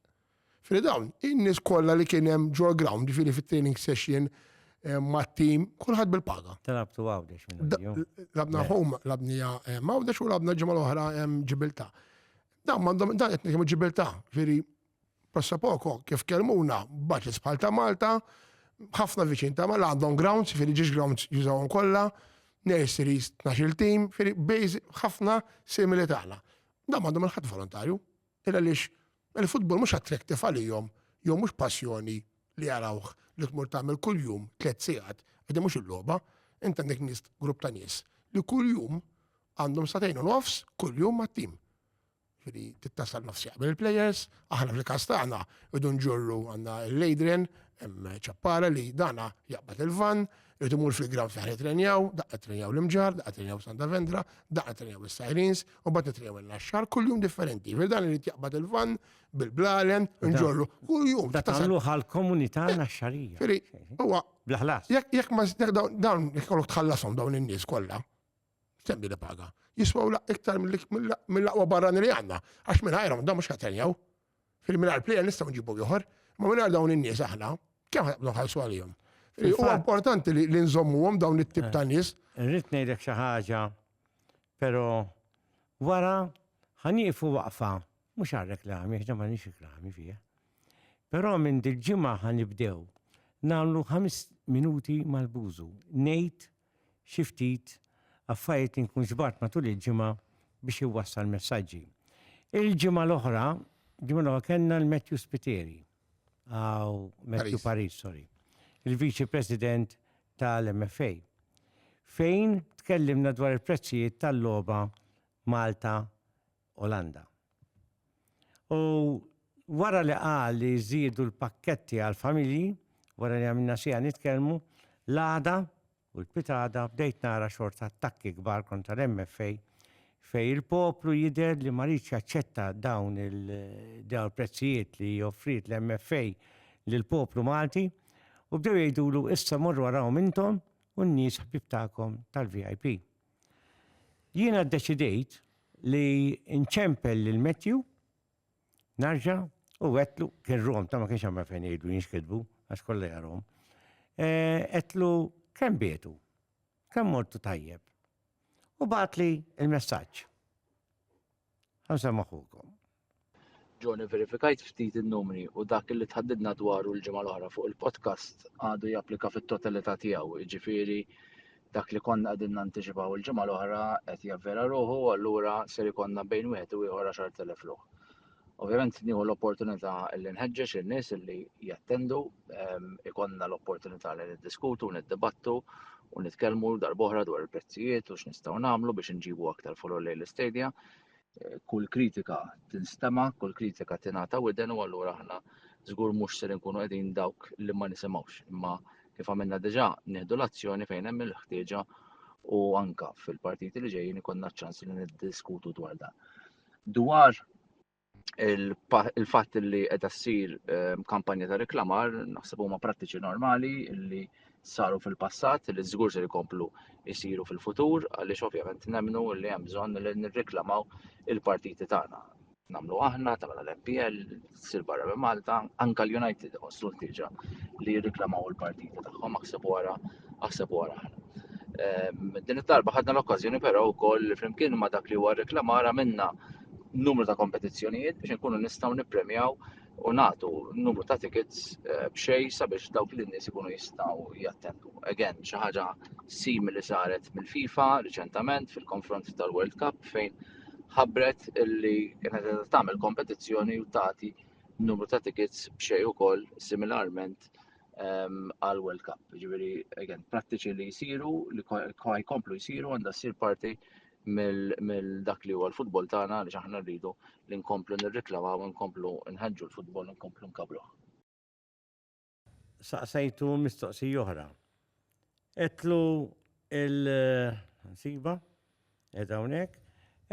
Fri dawn, in-nies kollha li kien hemm ġol ground, ġifieri fit-training session eh, mat-tim, kulħadd bil-paga. Talabtu għawdex minn Labna home, labnija eh, għawdex u labna ġimgħa l-oħra eh, ġibilta. Dan m'għandhom dan qed nitkellmu ġibilta, ġifieri prossa poko kif kelmuna baċis bħal ta' Malta, ħafna viċin ta' Malta għandhom grounds, ġifieri ġiex grounds jużawhom kollha, nurseries 12 tim, ġifieri bejż ħafna simili tagħna. Dan m'għandhom il-ħadd volontarju. Illa għaliex il-futbol mhux attractive għalihom jew mhux passjoni li jarawh li tmur tagħmel kuljum tliet sigħat, għax din mhux il-logħba. Int għandek nies, grupp ta' nies li kuljum għandhom sagħtejn u nofs kuljum mat-tim. Jiġifieri trid tasal nofs jaqbel il-plejers, aħna fil-każ tagħna rridu nġorru għandna l-Adrian hemm ċappara li dana jaqbad il-vann, Irrid imur fil-ground fl-ħar jitrenjaw, daqqa trenjaw l-imġar, daqqa trenjaw Santa Vendra, daqqa trenjaw is-Sirens, u bat nitrenjaw il-naxxar, kull jum differenti. Fil dan irrid jaqbad il-van bil-blalen, nġorru, kull jum. Da tagħmlu għal-komunità eh, naxxarija. Firi, huwa. Blaħlas. Jekk ma dawn jekk tħallasom dawn in-nies kollha, Semmi li paga. Jiswaw laq iktar mill-aqwa barrani li għanna, għax minn ħajra da mux ħatenjaw. Fil-minar plejer nistaw nġibu juħor, ma minn dawn in-nies aħna, kemm ħabnu ħalsu għalihom. U importanti li nżommuhom dawn it-tip ta' nies. Eh, rrid ngħidlek xi ħaġa, però wara ħanieqfu waqfa, mhux għal reklami, ħna ma nix reklami fija. Però minn dil-ġimgħa ħanibdew nagħmlu ħames minuti mal-bużu. Ngħid xi ftit affarijiet li nkun ġbart matul il-ġimgħa biex iwassal messaġġi. Il-ġimgħa l-oħra, ġimgħa l-oħra kellna l-Matthew Spiteri, għaw Matthew Paris, sorry, il-Viċi President tal-MFA, fejn tkellimna dwar il-prezzijiet tal-logħba Malta Olanda. U wara li qal li jżiedu l-pakketti għall-familji, wara li għamilna siegħa nitkellmu, l-għada u l-pitgħada bdejt nara xorta attakki kbar kontra l-MFA fejn il-poplu jidher li ma riedx jaċċetta dawn il-prezzijiet li offriet l-MFA lill-poplu Malti u bdew jgħidulu issa morru arahom intom u n-nies ħbieb tagħkom tal-VIP. Jiena ddeċidejt li nċempel lil Matthew narġa' u għedtlu kien rom ta' ma kienx għamel fejn jgħidu jinxkidbu għax kollha jarhom. Għedtlu eh, kemm bietu, kemm mortu tajjeb. U bagħatli il-messaġġ. Ħamsa maħukom. John ivverifikajt ftit in-numri u dak li tħaddidna dwaru l-ġimgħa l-oħra fuq il-podcast għadu japplika fit-totalità tiegħu, jiġifieri dak li konna qegħdin nantiċipaw il-ġimgħa l-oħra qed javvera ruħu u allura ser ikollna bejn wieħed u ieħor 10,000 ruħ. Ovvjament nieħu l-opportunità li nħeġġeġ in-nies li jattendu, ehm, ikonna l-opportunità li niddiskutu, niddibattu u nitkellmu darbohra dwar il-prezzijiet u x'nistgħu nagħmlu biex inġibu aktar follow lejn l-istedja. kull kritika tinstema, kull kritika tingħata widen u allura aħna żgur mhux ser inkunu qegħdin dawk li ma nisimgħux. Imma kif għamilna diġà nieħdu l-azzjoni fejn hemm il-ħtieġa u anka fil-partiti li ġejjin ikonna ċans li niddiskutu dwar dan. Dwar il-fatt li qiegħda ssir ehm, kampanja ta' reklamar naħseb huma prattiċi normali li saru fil-passat li żgur se jkomplu jsiru fil-futur għaliex ovvjament nemmnu li hemm bżonn li nirreklamaw il-partiti tagħna. Namlu aħna, tagħmel l-MPL, sir barra minn Malta, anka l-United għossu l-tiġa li jirriklamaw il-partiti tagħhom aħseb wara, aħseb wara aħna. Ehm, din it-talba ħadna l-okkażjoni però wkoll flimkien ma' dak li huwa reklamara minna numru ta' kompetizzjonijiet biex nkunu nistgħu nippremjaw u nagħtu numru ta' tickets eh, b'xej sabiex dawk li nies ikunu jistgħu jattendu. Again, xi ħaġa simili saret mill-FIFA riċentament fil-konfront tal-World Cup fejn ħabbret illi kienet qed tagħmel kompetizzjoni u tagħti numru ta' tickets b'xej ukoll similarment ehm, għal World Cup. Ġifieri, again, prattiċi li jsiru, li jkomplu jsiru għandha ssir parti mill dak li huwa l-futbol tagħna li aħna rridu li nkomplu nirriklamaw, nkomplu nħeġġu l-futbol, nkomplu nkabruh. Saqsejtu mistoqsi oħra. Etlu il-siba, edha hawnhekk,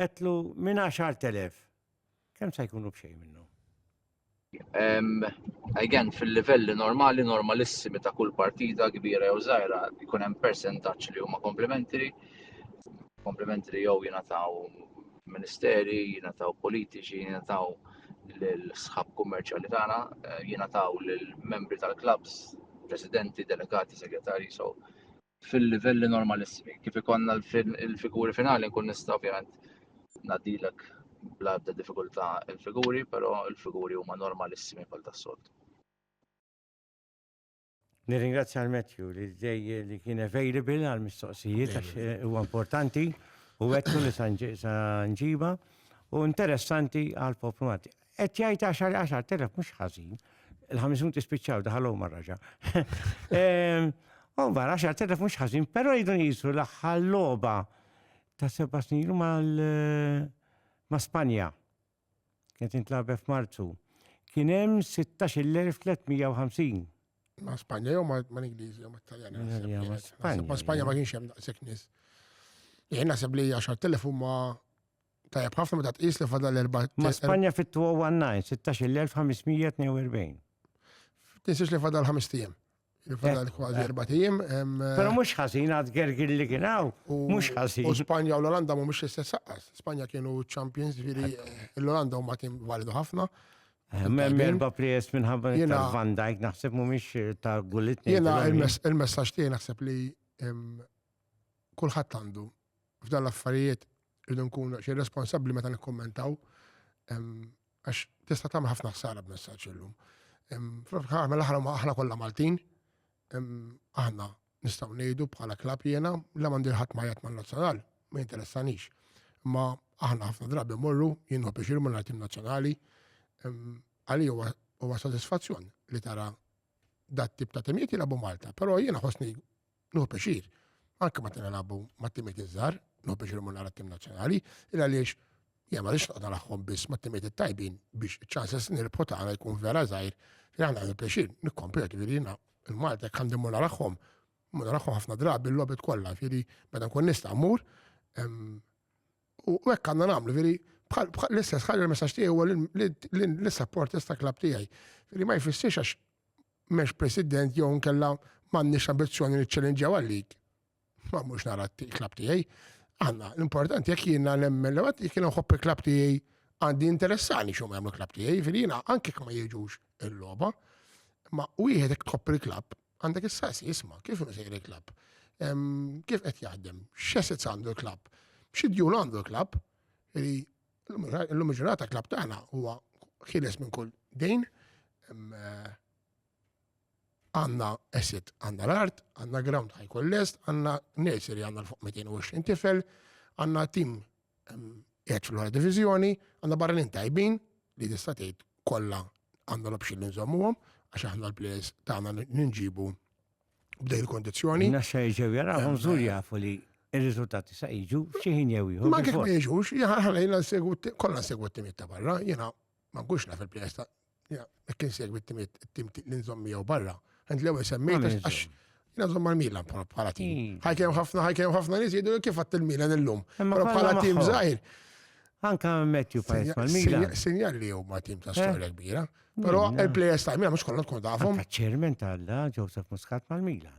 etlu minn 10,000. Kemm se jkunu b'xejn minnhom? Um, again, fil-livelli normali, normalissimi ta' kull partita kbira jew żgħira, jkun hemm percentaġġ li huma komplementari, komplementari jew jingħataw ministeri, jingħataw politiċi, jingħataw l-sħab kummerċjali tagħna, eh, jingħataw lill-membri tal-klabs, presidenti, delegati, segretari, so fil-livelli normalissimi. Kif ikonna l-figuri finali nkun nista' ovvjament nadilek bla ebda diffikultà il-figuri, però il-figuri huma normalissimi bħal tas-solt. Nirringrazzja għal Matthew li dej li kien available għal mistoqsijiet għax eh, huwa importanti u għettu li sanġiba u interessanti għal poplu Qed jgħid għaxar għaxar telef mhux ħażin. Il-ħames minuti spiċċaw daħalhom mar-raġa. Ehm, u mbagħad għaxar telef mhux ħażin, però jridu nqisu l-aħħar logħba ta' seba' snin mal ma' Spanja. Kienet intlabet f'Marzu. Kien hemm 16,350. Ma' Spanja jew ma' l-Ingliżi jew ma' Taljani. Ma' Spanja ma kienx hemm daqshekk nies. Jien naħseb li 10,000 huma Tajjeb ħafna meta tqis li fadal erba' Ma' Spanja fit-2019, 16,542. Tinsiex li fadal ħames tijem. Fadal kważi erba' tijem. Però mhux ħażin għad gergir li kien hawn. Mhux ħażin. U Spanja u l-Olanda mhumiex l-istess saqqas. Spanja kienu champions, ġifieri l-Olanda huma tim validu ħafna. Hemm erba' players minħabba li ta' Van Dijk naħseb mhumiex ta' Gullit. Jiena il-messaġġ tiegħi naħseb li kulħadd għandu f'dan l-affarijiet irridu nkunu daqsxejn responsabbli meta nikkummentaw għax tista' tagħmel ħafna ħsara b'messaġġ illum. Fl-aħħar mill-aħħar huma aħna kollha Maltin, aħna nistgħu ngħidu bħala klab jiena la m'għandi ħadd ma jgħid mal-nazzjonal, ma jinteressanix. Imma aħna ħafna drabi morru, jien hu biex irmu tim nazzjonali, għali huwa sodisfazzjon li tara dat tip ta' temijiet jilagħbu Malta, però jiena ħosni Nuħu pixir, anke meta nilagħbu mat-timiet iż-żgħar, nuħu pixir imur nara t-tim nazzjonali, il għaliex jien ma rix noqgħod nagħhom biss mat-timiet it-tajbin biex iċ-ċanses nirbħu tagħna jkun vera żgħir, li aħna għandu pixir nikkompetu li jiena il-Malta jekk għandi mur nagħhom, mur nagħhom ħafna drabi l-lobit kollha, fieri meta nkun nista' mmur U hekk għandna nagħmlu, veri, bħal l-istess ħaġa l-messaġġ tiegħi huwa l-supporters ta' klabb tiegħi. Veri ma jfissirx għax m'hemmx president jew nkella m'għandniex ambizzjoni li ċċellinġjaw għalik. Ma mhux nara t-klabb tiegħi. Għandna, l-importanti jekk jiena nemmen li jekk jiena nħobb il-klabb tiegħi għandi interessani xum jagħmlu klabb tiegħi, veri jiena anke ma jiġux il-logħba, ma wieħed jekk tħobb il-klabb Għandek is-saqsi, isma, kif inhu sejr il-klabb? Kif qed jaħdem? X'assets għandu l-klabb? Xi djun għandu l-klabb? Illum il-ġurnata klabb tagħna huwa ħieles minn kull dejn. Eh, għanna asset, għanna l-art, għanna ground ħajkun lest, għanna nursery għanna l-fuq 220 tifel, għanna tim Għedx fl-għora divizjoni, għanna barranin tajbin li tista' tgħid kollha għandna l-option li nżommuhom għax aħna l-players tagħna ninġibu b'dej il-kondizzjoni. Nassa jiġu jarahom żgur jafu li il-riżultati sa jiġu xi ħin jew ieħor. Ma kif ma jiġux, ħalejna segwu kollha segwu t-timiet ta' barra, jiena ma nkunx naf il-players ta' McKinsey għettim it-tim li nżom miegħu barra. Għand l-ewwel semmejt għax jina nżom mal-Milan bħala tim. Hmm. Ħajkemm ħafna ħajkemm ħafna nies jgħidu kif għatt il-Milan illum. Bħala tim żgħir. Anka Matthew Pajs mal-Milan. Sinjal li huma tim ta' eh? storja kbira. Però il-plejers ta' Milan mhux kollha tkun tafhom. Ċermen tal-la Joseph Muscat mal-Milan.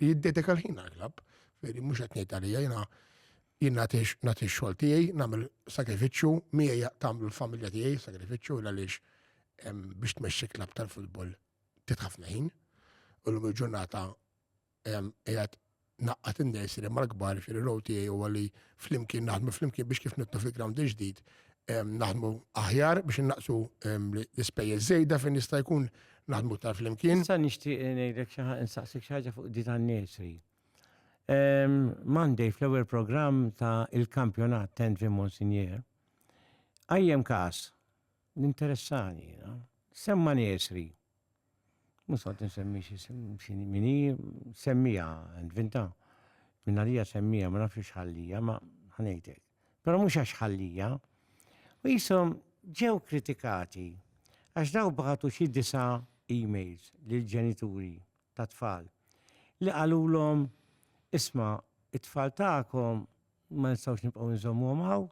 li jiddedika l-ħin għall-klabb. Veri, mhux qed ngħid għalija jiena jien nagħti x-xogħol tiegħi, nagħmel sagrifiċċju, miegħi tagħmlu l-familja tiegħi sagrifiċċju għaliex biex tmexxi klabb tal-futbol titħafna ħin. U l-lum il-ġurnata qiegħed naqqat in-nursery mal-kbar xi l-row tiegħi huwa li flimkien naħdmu flimkien biex kif nittu fil-ground ġdid naħdmu aħjar biex innaqsu l-ispejjeż żejda fejn jista' jkun naħdmu tar flimkien. Issa nixtieq ngħidlek xi ħaġa insaqsik xi ħaġa fuq di tan-nursery. Ehm, Monday fl-ewwel programm ta' il-kampjonat Tenvi Monsignor, għajjem każ l-interessani, semma nursery. Mhux qed insemmi xi mini, semmija, nvinta. Minna lija semmija, ma nafx x'ħallija, ma ħanejtek. Però mhux għax ħallija. U qishom ġew kritikati għax dawk bagħtu xi disa' emails lill-ġenituri tat-tfal li qalulhom, isma' t-tfal tagħkom ma nistgħux nibqgħu nżommuhom hawn,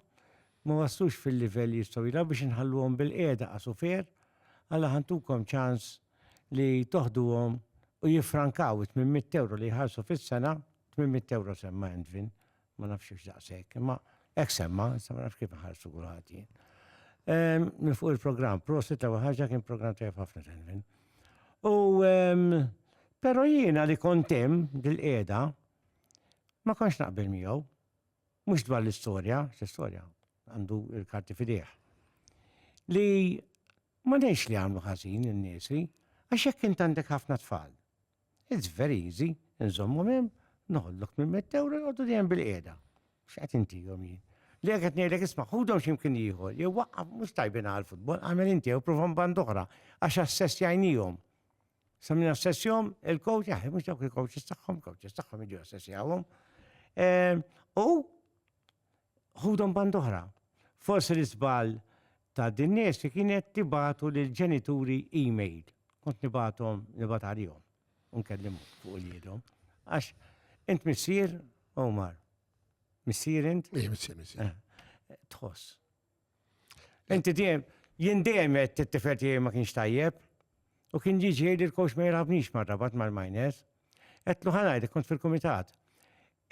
ma waslux fil-livell li jistgħu jilgħabu biex inħalluhom bilqiegħda għasufier, alla ħa ntukom ċans li toħduhom u jiffrankaw it-tmien mitt ewro li jħallsu fis-sena, tmien mitt ewro semma Endvin, Ma nafx hux daqshekk, imma hekk semma, issa ma nafx kif inħarsu kulħadd jien. Minn fuq il-programm, prosit l-ewwel ħaġa kien programm tajjeb ħafna Telvin. U però jiena li kont hemm dil-qiegħda ma kontx naqbel miegħu. Mhux dwar l-istorja, l-istorja għandu l-karti fidejh. Li ma ngħidx li għamlu ħażin in-niesi, għax hekk int għandek ħafna tfal. It's very easy, inżommhom hemm, noħodlok minn mitt ewro jqogħdu dejjem bilqiegħda. X'qed intihom jien? Li hekk qed ngħidlek isma' ħudhom xi mkien ieħor, jew waqqaf mhux tajbin għall-futbol, agħmel inti jew provahom banda oħra, għax assessjajniehom. Sa min assessjahom il-coach, jaħi mhux dawk il-coaches tagħhom, coaches tagħhom jiġu assessjawhom. U Ħudhom band oħra. Forsi l-iżball ta' din nies li kienet tibagħtu lill-ġenituri email. Kont nibagħthom nibgħat għalihom u nkellimhom fuq uliedhom. Għax int missier, Omar. Missier int? Ih, missier, missier. Tħoss. Inti dejjem, jien dejjem qed t-tifel tiegħi ma kienx tajjeb. U kien jiġi jgħidli l-kowx ma jirħabnix mar-rabat mal-miners. Qedtlu ħanajd, kont fil-kumitat.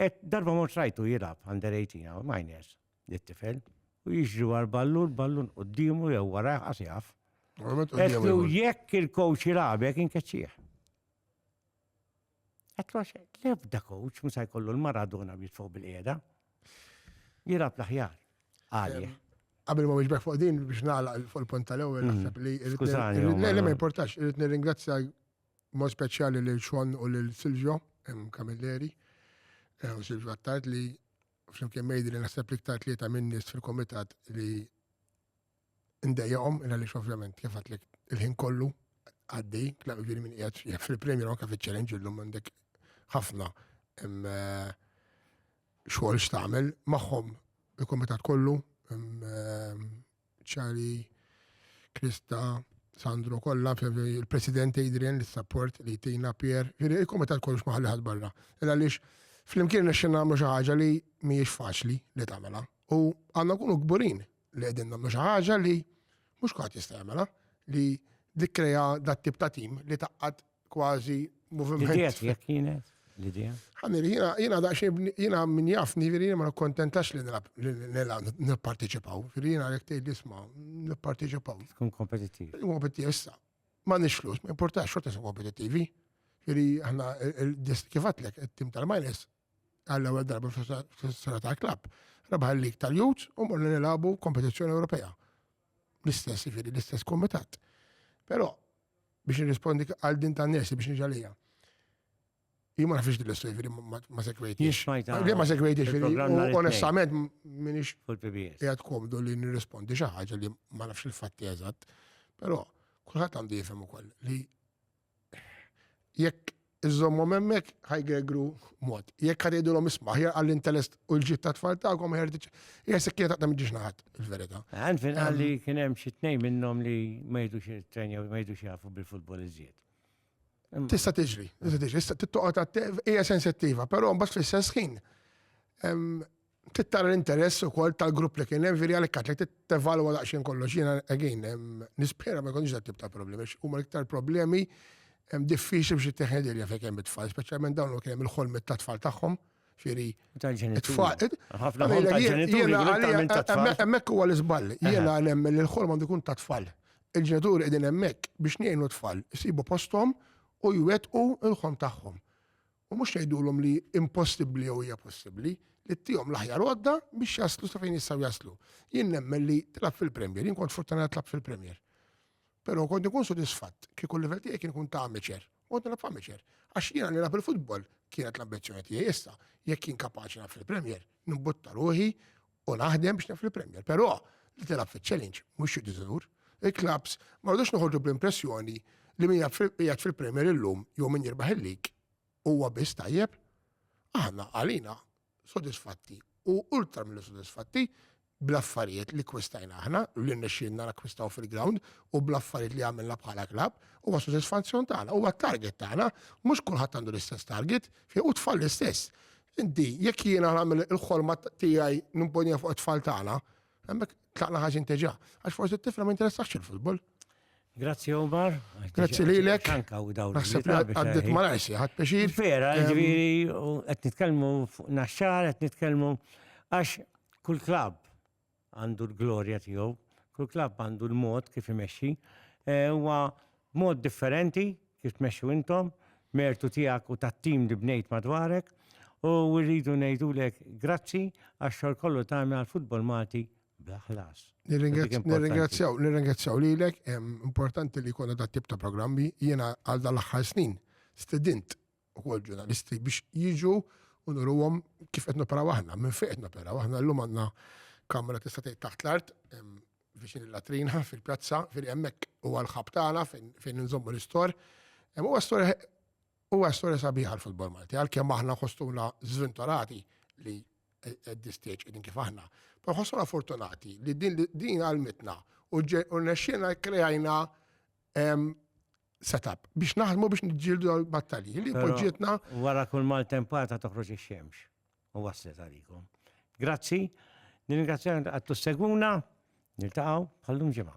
Et darba mort rajtu jilab under 18 għaw, miners, dit-tifel. U jiġri war ballu, l-ballu nqoddimu jew wara jaf. Qedtlu jekk il-kowx jilabek inkeċċieħ. Għatlu għax l-ebda coach musa jkollu l-Maradona jitfgħu bil-qiegħda. Jirab l-aħjar. Għalih. Qabel ma wieġbek fuq din biex nagħlaq fuq il-punt tal-ewwel mm. naħseb li Skużani. Le le ma importax, irid nirringrazzja mod speċjali lil Xon u lil Silvio Camilleri eh, u Silvio Attard li flimkien mejdi li naħseb li iktar tlieta minn nies fil-komitat li ndejjaqhom, għaliex ovvjament kif għatlek il-ħin kollu għaddi, tlaqqa ġiri minn qiegħed jekk fil-premjer anke fiċ-challenge illum għandek ħafna eh, xogħol x'tagħmel magħhom il-kumitat kollu eh, ċari Krista Sandro kollha il-President Adrian li support li tina Pier, il-kumitat kollu x'maħalli ħadd barra. Illa għaliex flimkien nixxin nagħmlu xi ħaġa li mhijiex faċli li tagħmela. U għandna kunu kburin li qegħdin nagħmlu xi ħaġa li mhux kulħadd jista' jagħmilha li dikkreja dat tip ta' tim li taqqad kważi moviment. Jekk jekk kienet l-idea. Ħanir, jiena daqsxejn jiena min jafni veri jiena ma nikkontentax li nilgħab nipparteċipaw. Veri jiena jekk tgħid isma' nipparteċipaw. Tkun kompetittiv. Kompetittiv issa. Ma nix flus, ma importax xorta kompetittivi. Veri aħna kif għatlek it-tim tal-minus għall-ewwel darba fl-istoria tal-klabb. Rebaħ il-lig tal-Youth u morna nilagħbu kompetizzjoni Ewropea. L-istess jiġifieri l-istess kumitat. Però biex nirrispondi għal din ta' nesi biex niġalija. Jien ma nafx din l-istorja jiġifieri ma sekwejtix. Jien smajta. Jien ma sekwejtix jiġifieri onestament minix. Fil-PBS. Qiegħed komdu li nirrispondi xi ħaġa li ma nafx il-fatti eżatt. Però kulħadd għandu jifhem ukoll li Jekk iżżommhom hemmhekk ħajgegru mod. Jekk ħad jgħidulhom isma' aħjar għall-intelest u l-ġid ta' tfal tagħkom aħjar tiġ. Hija sekkina taqta' miġiex naħat il-verità. Għan fin għalli ehm. kien hemm xi tnejn minnhom li ma jgħidux it-trenja ma jgħidux jafu bil-futbol iżjed. Tista' tiġri, tista' tiġri, tista' tittoqgħod hija sensittiva, però mbagħad fl-istess ħin ehm, trid tara l-interess ukoll tal-grupp li kien hemm veri għalhekk għatlek trid tevalwa daqsxejn kollox. Jiena again nispera ma jkunx dat tip ta' problemi, huma l-iktar problemi hemm diffiċli biex ittieħed ilja fejn hemm it-tfal, speċjalment dawn li kien hemm il-ħolmet tat-tfal tagħhom. Ġieri, it-tfal. Ħafna ħolmet. Hemmhekk huwa l-iżball. Jiena nemmen li l-ħolm għandu jkun tat-tfal. Il-ġenituri qegħdin hemmhekk biex ngħinu t-tfal, isibu posthom u jwettqu l-ħolm tagħhom. U mhux tgħidulhom li impossibbli jew hija possibbli, li ttihom l-aħjar għodda biex jaslu sa fejn jistgħu jaslu. Jien nemmen li tilgħab fil-Premier, jien kont fortunat tlab fil-Premier. Però kont ikun sodisfatt kieku l-livell tiegħi kien ikun ta' amateur. Kont nilgħab amateur. Għax jiena nilgħab il-futbol kienet l-ambizzjoni tiegħi issa. Jekk jien kapaċi nilgħab fil-Premier, nimbutta ruħi u naħdem biex naf il-Premier. Però li tilab fil-challenge mhux xi diżinur. Il-klabs ma rridux noħorġu bl-impressjoni li min jgħid fil-Premier illum jew min jirbaħ il-lig huwa biss tajjeb. Aħna għalina sodisfatti u ultra mill sodisfatti bl-affarijiet li kwistajna aħna, li nexxinna nakkwistaw fil-ground u bl-affarijiet li għamilna bħala klab, u għas sodisfazzjon tagħna, u għat-target tagħna, mhux kulħadd għandu l-istess target, fi u tfal l-istess. Inti, jekk jiena nagħmel il-ħolma tiegħi nimponija fuq it-tfal tagħna, hemmhekk tlaqna ħaġin teġa. Għax forsi t-tifla ma jinteressax il-futbol. Grazzi Omar. Grazzi li l-ek. Naħseb li għaddit ma najsi, għad peċir. Vera, ġviri, għed nitkelmu naxxar, għed nitkelmu għax kull klab għandu l-glorja tiegħu, kull klabb għandu l-mod kif imexxi. Eh, huwa mod differenti kif tmexxu intom, mertu tiegħek u tat-tim li bnejt madwarek u rridu ngħidulek grazzi għax-xogħol kollu tagħmel għall-futbol Malti bla ħlas. Nirringrazzjaw, nirringrazzjaw lilek, importanti li jkollna dat tip ta' programmi, jiena għal dal-aħħar snin stedint ukoll ġurnalisti biex jiġu u nuruhom kif qed noperaw aħna, minn fejn qed noperaw. Aħna llum għandna kamra tista' tgħid taħt l-art viċin il-latrina fil-pjazza fejn hemmhekk huwa l-ħab tagħna fejn nżommu l-istor. Huwa storja huwa storja sabiħa l-futbol Malti għalkemm aħna ħostuna żvintorati li at this stage qegħdin kif aħna. Pa ħossuna fortunati li din għalmitna u nexxina krejajna setup biex naħdmu biex nġildu għal-battalji li poġġietna. Wara kull maltempata toħroġ ix-xemx u waslet għalikom. Grazzi, nirringrazzja għattu segwuna, niltaqaw bħallum ġimgħa.